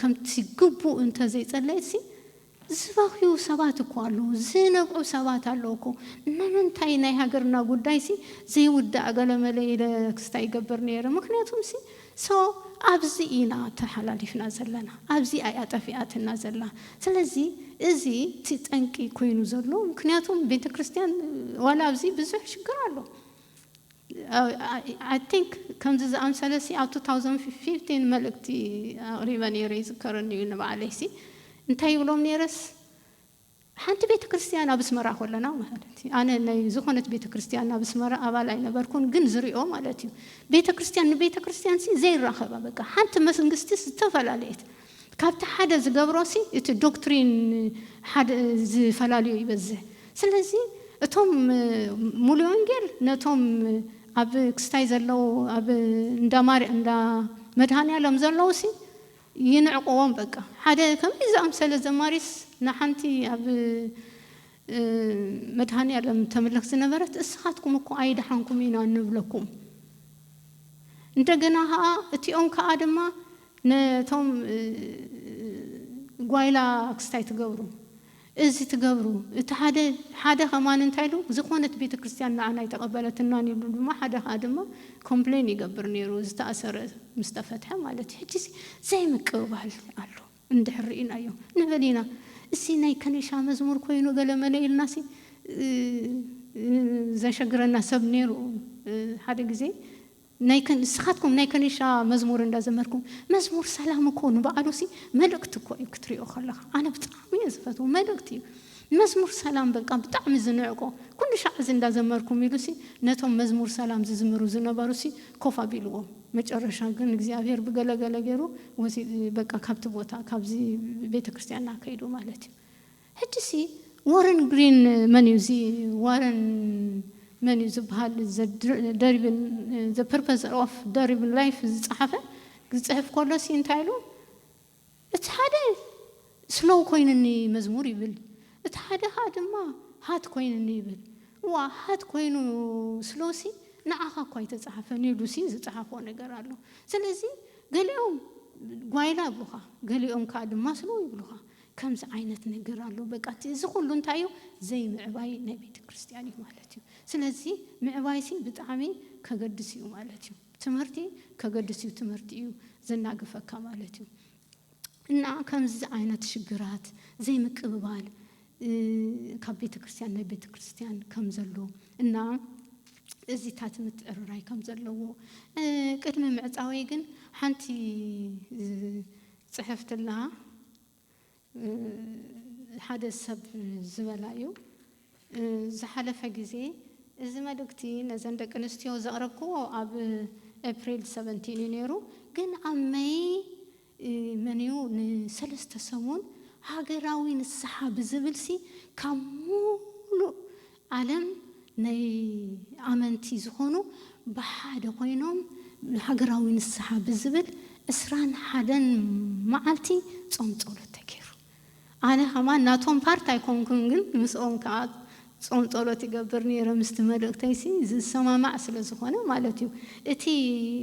ከምቲ ግቡእ እንተ ዘይ ጸለየት ሲ ዝባኽዩ ሰባት እኮ ኣለዉ ዝነብዑ ሰባት ኣለዉ እኮ ንምንታይ ናይ ሃገርና ጉዳይሲ ዘይውዳእ ገለመለ ኢለ ክስታይ ይገብር ነይረ ምኽንያቱምሲ so ኣብዚ ኢና ተሓላሊፍና ዘለና ኣብዚኣ እያ ጠፊኣትና ዘላ ስለዚ እዚ እቲ ጠንቂ ኮይኑ ዘሎ ምኽንያቱም ቤተክርስትያን ዋላ ኣብዚ ብዙሕ ሽግር ኣሎ ኣይ ቲንክ ከምዚ ዝኣምሰለሲ ኣብ ቱ ታውዘንድ ፊፍቲን መልእክቲ ኣቕሪበ ነይረ ይዝከረኒ እዩ ንባዕለይሲ እንታይ ይብሎም ነይረስ ሓንቲ ቤተክርስትያን ኣብ ኣስመራ ከለና ማለት እዩ ኣነ ናይ ዝኾነት ቤተክርስትያን ኣብ ኣስመራ ኣባል ኣይነበርኩን ግን ዝሪኦ ማለት እዩ ቤተክርስትያን ንቤተክርስትያንሲ ዘይራኸባ በቃ ሓንቲ መስንግስቲስ ዝተፈላለየት ካብቲ ሓደ ዝገብሮሲ እቲ ዶክትሪን ሓደ ዝፈላልዮ ይበዝሕ። ስለዚ እቶም ሙሉእ ወንጌል ነቶም ኣብ ክስታይ ዘለዉ ኣብ እንዳ ማር እንዳ መድሃኒኣለም ዘለዉሲ ይንዕቅዎም በቃ። ሓደ ከምዚ ዝኣምሰለ ዘማሪስ ንሓንቲ ኣብ መድሃኒኣለም ተምልኽ ዝነበረት እስኻትኩም እኮ ኣይደሓንኩምን ኢና እንብለኩም። እንደገና ከኣ እቲኦም ከኣ ድማ ነቶም ጓይላ ክስታይ ትገብሩ እዚ ትገብሩ እቲ ሓደ ሓደ ከማን እንታይ ኢሉ ዝኾነት ቤተክርስትያን ንዓና ኣይተቀበለትናን ይብሉ ድማ ሓደ ከኣ ድማ ኮምፕሌን ይገብር ኔሩ ዝተኣሰረ ምስ ተፈትሐ ማለት እዩ ሕጂ እዚ ዘይምቅብባል ኣሎ እንድሕር ሪኢናዮ ንበል ኢና እዚ ናይ ከኒሻ መዝሙር ኮይኑ ገለ መለ ኢልና ሲ ዘሸግረና ሰብ ኔሩ ሓደ ግዜ ናይ ከን ንስኻትኩም ናይ ከኒሻ መዝሙር እንዳ ዘመርኩም መዝሙር ሰላም እኮ ንባዕሉሲ መልእክቲ እኮ እዩ ክትሪኦ ከለኻ ኣነ ብጣዕሚ እየ ዝፈትዎ መልእክቲ እዩ መዝሙር ሰላም በቃ ብጣዕሚ ዝንዕቆ ኩሉ ሻዕ እዚ እንዳ ዘመርኩም ኢሉሲ ነቶም መዝሙር ሰላም ዝዝምሩ ዝነበሩሲ ኮፍ ኣቢልዎም መጨረሻ ግን እግዚኣብሄር ብገለ ገለ ጌሩ ወሲድ በቃ ካብቲ ቦታ ካብዚ ቤተክርስትያና ከይዱ ማለት እዩ ሕጂሲ ዎረን ግሪን መን እዩ እዚ ዋረን መን እዩ ዝብሃል ዘ ደሪብል ዘ ፐርፐዝ ኦፍ ደሪብል ላይፍ ዝጸሓፈ ክጽሕፍ ከሎሲ እንታይ ኢሉ እቲ ሓደ ስሎው ኮይኑኒ መዝሙር ይብል እቲ ሓደ ከኣ ድማ ሃት ኮይኑኒ ይብል እዋ ሃት ኮይኑ ስሎውሲ ንዓኻ እኳ ኣይተጸሓፈን ኢሉሲ እዩ ዝጸሓፎ ነገር ኣሎ ስለዚ ገሊኦም ጓይላ ይብሉኻ ገሊኦም ከኣ ድማ ስሎው ይብሉኻ ከምዚ ዓይነት ነገር ኣሎ በቃ እቲ እዚ ኩሉ እንታይ እዩ ዘይምዕባይ ናይ ቤተክርስትያን እዩ ማለት እዩ ስለዚ ምዕባይሲ ብጣዕሚ ከገድስ እዩ ማለት እዩ ትምህርቲ ከገድስ እዩ ትምህርቲ እዩ ዘናግፈካ ማለት እዩ እና ከምዚ ዓይነት ሽግራት ዘይምቅብባል ካብ ቤተክርስትያን ናይ ቤተክርስትያን ከም ዘሎ እና እዚታት ምትዕርራይ ከም ዘለዎ ቅድሚ ምዕፃወይ ግን ሓንቲ ጽሕፍቲ ኣለሃ ሓደ ሰብ ዝበላ እዩ ዝሓለፈ ግዜ እዚ መልእክቲ ነዘን ደቂ ኣንስትዮ ዘቕረብክዎ ኣብ ኤፕሪል ሰቨንቲን እዩ ነይሩ ግን ኣብ መይ መን እዩ ንሰለስተ ሰሙን ሃገራዊ ንስሓ ብዝብልሲ ካብ ሙሉእ ዓለም ናይ ኣመንቲ ዝኾኑ ብሓደ ኮይኖም ንሃገራዊ ንስሓ ብዝብል ዕስራን ሓደን መዓልቲ ጾም ጸሎት ተጌሩ ኣነ ከማን ናቶም ፓርት ኣይኮንኩን ግን ምስኦም ከኣ ጾም ጸሎት ይገብር ኔረ ምስቲ መልእክተይሲ ዝሰማማዕ ስለ ዝኾነ ማለት እዩ እቲ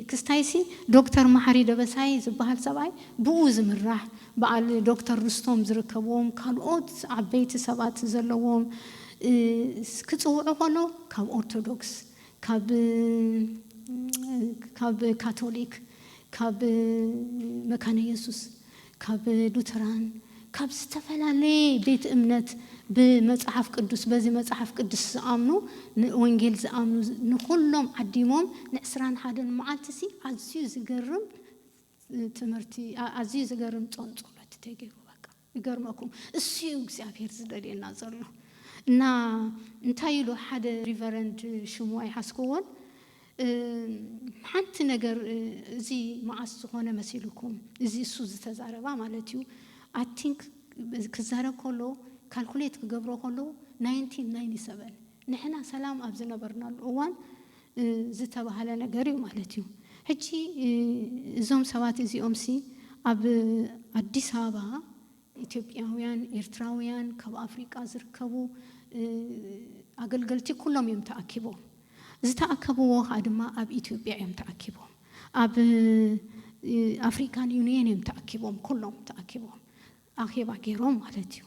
ክስታይሲ ዶክተር መሓሪ ደበሳይ ዝብሃል ሰብኣይ ብኡ ዝምራሕ በዓል ዶክተር ርስቶም ዝርከብዎም ካልኦት ዓበይቲ ሰባት ዘለዎም ክጽውዑ ከለው ካብ ኦርቶዶክስ ካብ ካብ ካቶሊክ ካብ መካነ የሱስ ካብ ሉተራን ካብ ዝተፈላለየ ቤት እምነት ብመጽሓፍ ቅዱስ በዚ መጽሓፍ ቅዱስ ዝኣምኑ ንወንጌል ዝኣምኑ ንኹሎም ዓዲሞም ንዕስራን ሓደን መዓልቲሲ ኣዝዩ ዝገርም ትምህርቲ ኣዝዩ ዝገርም ጾም ጸሎት ተገይሩ በቃ ይገርመኩም እሱ እዩ እግዚኣብሔር ዝደልየና ዘሎ እና እንታይ ኢሉ ሓደ ሪቨረንድ ሽሙ ኣይሓዝክዎን ሓንቲ ነገር እዚ መዓስ ዝኾነ መሲልኩም እዚ እሱ ዝተዛረባ ማለት እዩ ኣቲንክ ክዛረብ ከሎ ካልኩሌት ክገብሮ ከሎ ናይንቲን ናይኒ ሰበን ንሕና ሰላም ኣብ ዝነበርናሉ እዋን ዝተባህለ ነገር እዩ ማለት እዩ። ሕጂ እዞም ሰባት እዚኦምሲ ኣብ ኣዲስ ኣበባ ኢትዮጵያውያን፣ ኤርትራውያን፣ ካብ ኣፍሪቃ ዝርከቡ ኣገልገልቲ ኩሎም እዮም ተኣኪቦም። ዝተኣከብዎ ከኣ ድማ ኣብ ኢትዮጵያ እዮም ተኣኪቦም። ኣብ ኣፍሪካን ዩንየን እዮም ተኣኪቦም ኩሎም ተኣኪቦም። ኣኼባ ገይሮም ማለት እዩ።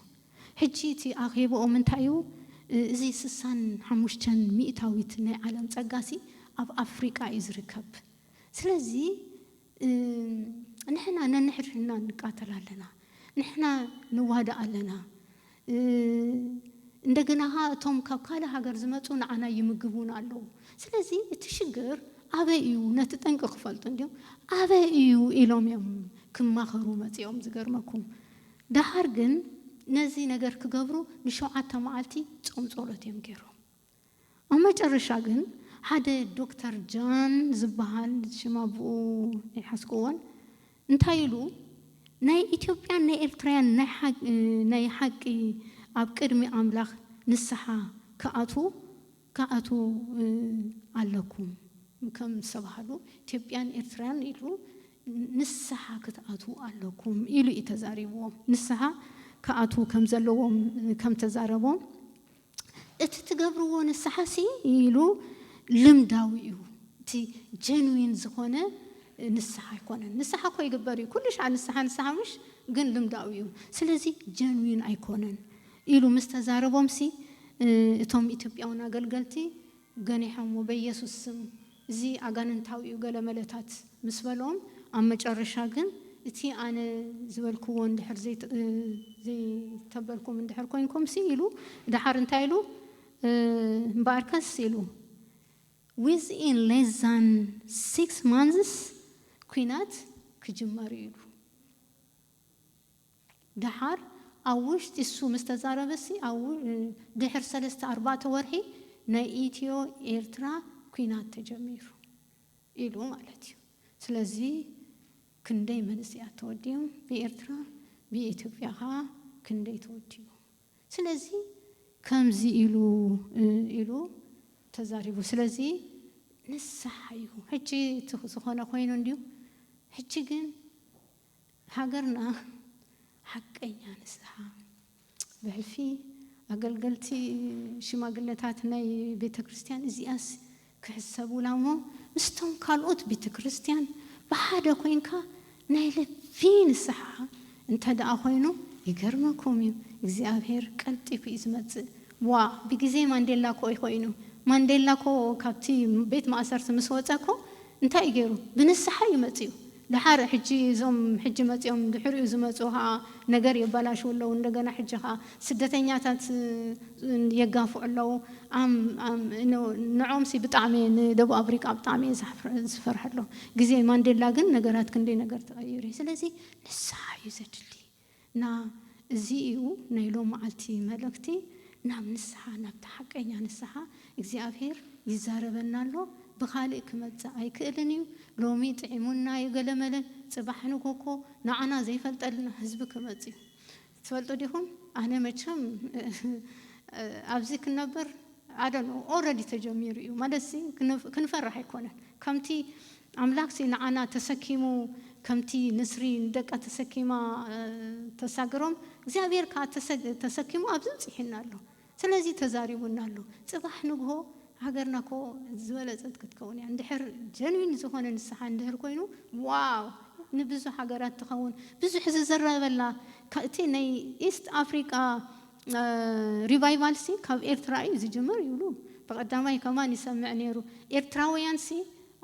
ሕጂ እቲ ኣኼብኦም እንታይ እዩ? እዚ ስሳን ሓሙሽተን ሚእታዊት ናይ ዓለም ጸጋሲ ኣብ ኣፍሪቃ እዩ ዝርከብ። ስለዚ ንሕና ነንሕድሕድና ንቃተል ኣለና፣ ንሕና ንዋዳእ ኣለና፣ እንደገና ከኣ እቶም ካብ ካልእ ሃገር ዝመጹ ንዓና ይምግቡና ኣለዉ። ስለዚ እቲ ሽግር ኣበይ እዩ ነቲ ጠንቂ ክፈልጡ እንድዮም ኣበይ እዩ ኢሎም እዮም ክማኸሩ መጺኦም ዝገርመኩም ደሃር ግን ነዚ ነገር ክገብሩ ንሸውዓተ መዓልቲ ጾም ጾሎት እዮም ጌሮም ኣብ መጨረሻ ግን ሓደ ዶክተር ጃን ዝብሃል ሽም ኣቡኡ ኣይሓዝኩዎን እንታይ ኢሉ ናይ ኢትዮጵያን ናይ ኤርትራያን ናይ ሓቂ ኣብ ቅድሚ ኣምላኽ ንስሓ ክኣትዉ ክኣትዉ ኣለኩም ከም ዝተባህሉ ኢትዮጵያን ኤርትራን ኢሉ ንስሓ ክትኣትዉ ኣለኩም ኢሉ እዩ ተዛሪብዎም። ንስሓ ክኣትዉ ከም ዘለዎም ከም ተዛረቦም እቲ ትገብርዎ ንስሓ ሲ ኢሉ ልምዳዊ እዩ እቲ ጀንዊን ዝኾነ ንስሓ ኣይኮነን። ንስሓ እኮ ይግበር እዩ ኩሉ ሻዕ ንስሓ ንስሓ ምሽ ግን ልምዳዊ እዩ ስለዚ ጀንዊን ኣይኮነን ኢሉ ምስ ተዛረቦምሲ፣ እቶም ኢትዮጵያውን ኣገልገልቲ ገኒሖምዎ፣ በየሱስ ስም፣ እዚ ኣጋንንታዊ እዩ ገለመለታት ምስ በሎም፣ ኣብ መጨረሻ ግን፣ እቲ ኣነ ዝበልኩዎ እንድሕር ዘይተበልኩም እንድሕር ኮይንኩምሲ፣ ኢሉ ደሓር እንታይ ኢሉ፣ እምበኣርከስ ኢሉ፣ ዊዝኢን ሌስ ዛን ሲክስ ማንዝስ ኲናት ክጅመር እዩ ኢሉ። ደሓር ኣብ ውሽጢ እሱ ምስ ተዛረበሲ ኣብ ድሕር ሰለስተ ኣርባዕተ ወርሒ ናይ ኢትዮ ኤርትራ ኩናት ተጀሚሩ ኢሉ ማለት እዩ ስለዚ ክንደይ መንእሰያት ተወዲኦም ብኤርትራ ብኢትዮጵያ ከኣ ክንደይ ተወዲኡ ስለዚ ከምዚ ኢሉ ኢሉ ተዛሪቡ ስለዚ ንስሓ እዩ ሕጂ እቲ ዝኾነ ኮይኑ እንድዩ ሕጂ ግን ሃገርና ሓቀኛ ንስሓ ብሕልፊ ኣገልገልቲ ሽማግለታት ናይ ቤተክርስትያን እዚኣስ ክሕሰቡላ እሞ ምስቶም ካልኦት ቤተክርስትያን ብሓደ ኮይንካ ናይ ልቢ ንስሓ እንተድኣ ኮይኑ ይገርመኩም እዩ እግዚኣብሔር ቀልጢፉ እዩ ዝመጽእ ዋእ ብግዜ ማንዴላ እኮ እዩ ኮይኑ ማንዴላ እኮ ካብቲ ቤት ማእሰርቲ ምስ ወጸ እኮ እንታይ እዩ ጌሩ ብንስሓ እዩ መጺኡ ደሓር ሕጂ እዞም ሕጂ መጺኦም ድሕሪኡ ዝመጹ ከኣ ነገር የባላሽዉ ኣለዉ እንደገና ሕጂ ከኣ ስደተኛታት የጋፍዑ ኣለዉ ኣም ኣም ን ንዕኦም ሲ ብጣዕሚ እየ ንደቡብ ኣፍሪቃ ብጣዕሚ እየ ዝሓፍር ዝፈርሐሎም ግዜ ማንዴላ ግን ነገራት ክንደይ ነገር ተቀይሩ እዩ ስለዚ ንስሓ እዩ ዘድሊ። እና እዚ እዩ ናይ ሎምዓልቲ መልእክቲ ናብ ንስሓ ናብቲ ሓቀኛ ንስሓ እግዚኣብሄር ይዛረበና ኣሎ ብካሊእ ክመፅእ ኣይክእልን እዩ ሎሚ ጥዒሙና እዩ ገለመለ ፅባሕ ንጎኮ ንዓና ዘይፈልጠልና ህዝቢ ክመፅ እዩ ትፈልጡ ዲኩም ኣነ መቸም ኣብዚ ክነብር ኣደነው ኦረዲ ተጀሚሩ እዩ ማለትሲ ክንፈርሕ ኣይኮነን ከምቲ ኣምላክሲ ንዓና ተሰኪሙ ከምቲ ንስሪ ንደቃ ተሰኪማ ተሳግሮም እግዚኣብሄር ከኣ ተሰኪሙ ኣብዚ ኣብጺሑና ኣሎ ስለዚ ተዛሪቡና ኣሎ ጽባሕ ንግሆ ሃገርና እኮ ዝበለጸት ክትከውን እያ እንድሕር ጀንዊን ዝኮነ ንስሓ እንድህር ኮይኑ ዋው ንብዙሕ ሃገራት ትከውን ብዙሕ ዝዝረበላ እቲ ናይ ኢስት ኣፍሪቃ ሪቫይቫልሲ ካብ ኤርትራ እዩ ዝጅምር ይብሉ ብቀዳማይ ከማን ይሰምዕ ኔሩ ኤርትራውያንሲ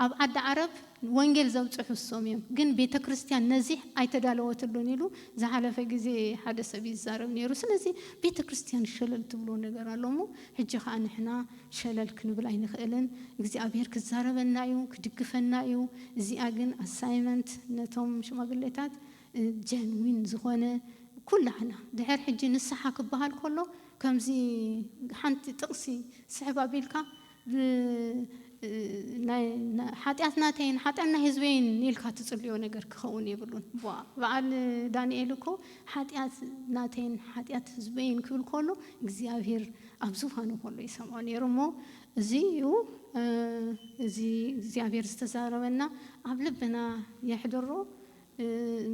ኣብ ዓዲ ዓረብ ወንጌል ዘብጽሑ እሶም እዮም ግን ቤተ ክርስትያን ነዚ ኣይተዳለወትሉን ኢሉ ዝሓለፈ ግዜ ሓደ ሰብ ይዛረብ ኔሩ ስለዚ ቤተ ክርስትያን ሸለል ትብሎ ነገር ኣሎ እሞ ሕጂ ከኣ ንሕና ሸለል ክንብል ኣይንክእልን እግዚኣብሄር ክዛረበና እዩ ክድግፈና እዩ እዚኣ ግን ኣሳይመንት ነቶም ሽማግሌታት ጀንዊን ዝኾነ ኩላህና ድሕር ሕጂ ንስሓ ክበሃል ኮሎ ከምዚ ሓንቲ ጥቅሲ ስሕብ ኣቢልካ ሓጢኣት ናተይን ሓጢኣት ናይ ህዝበይን ኢልካ ትጽልዮ ነገር ክኸውን የብሉን። በዓል ዳንኤል እኮ ሓጢኣት ናተይን ሓጢኣት ህዝበይን ክብል ከሎ እግዚኣብሄር ኣብ ዙፋኑ ከሎ ይሰምዖ ነይሩ እሞ እዚ እዩ እዚ እግዚኣብሄር ዝተዛረበና ኣብ ልብና የሕድሮ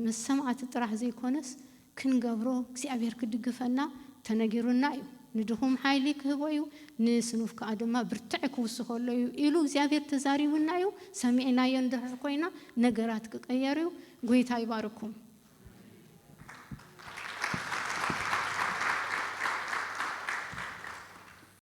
ምስ ሰማዕቲ ጥራሕ ዘይኮነስ ክንገብሮ እግዚኣብሔር ክድግፈና ተነጊሩና እዩ ንድኹም ሓይሊ ክህቦ እዩ ንስኑፍ ከኣ ድማ ብርትዐ ክውስኸሉ እዩ ኢሉ እግዚኣብሔር ተዛሪቡና እዩ ሰሚዕናዮ እንድሕር ኮይና ነገራት ክቀየር እዩ ጎይታ ይባርኩም።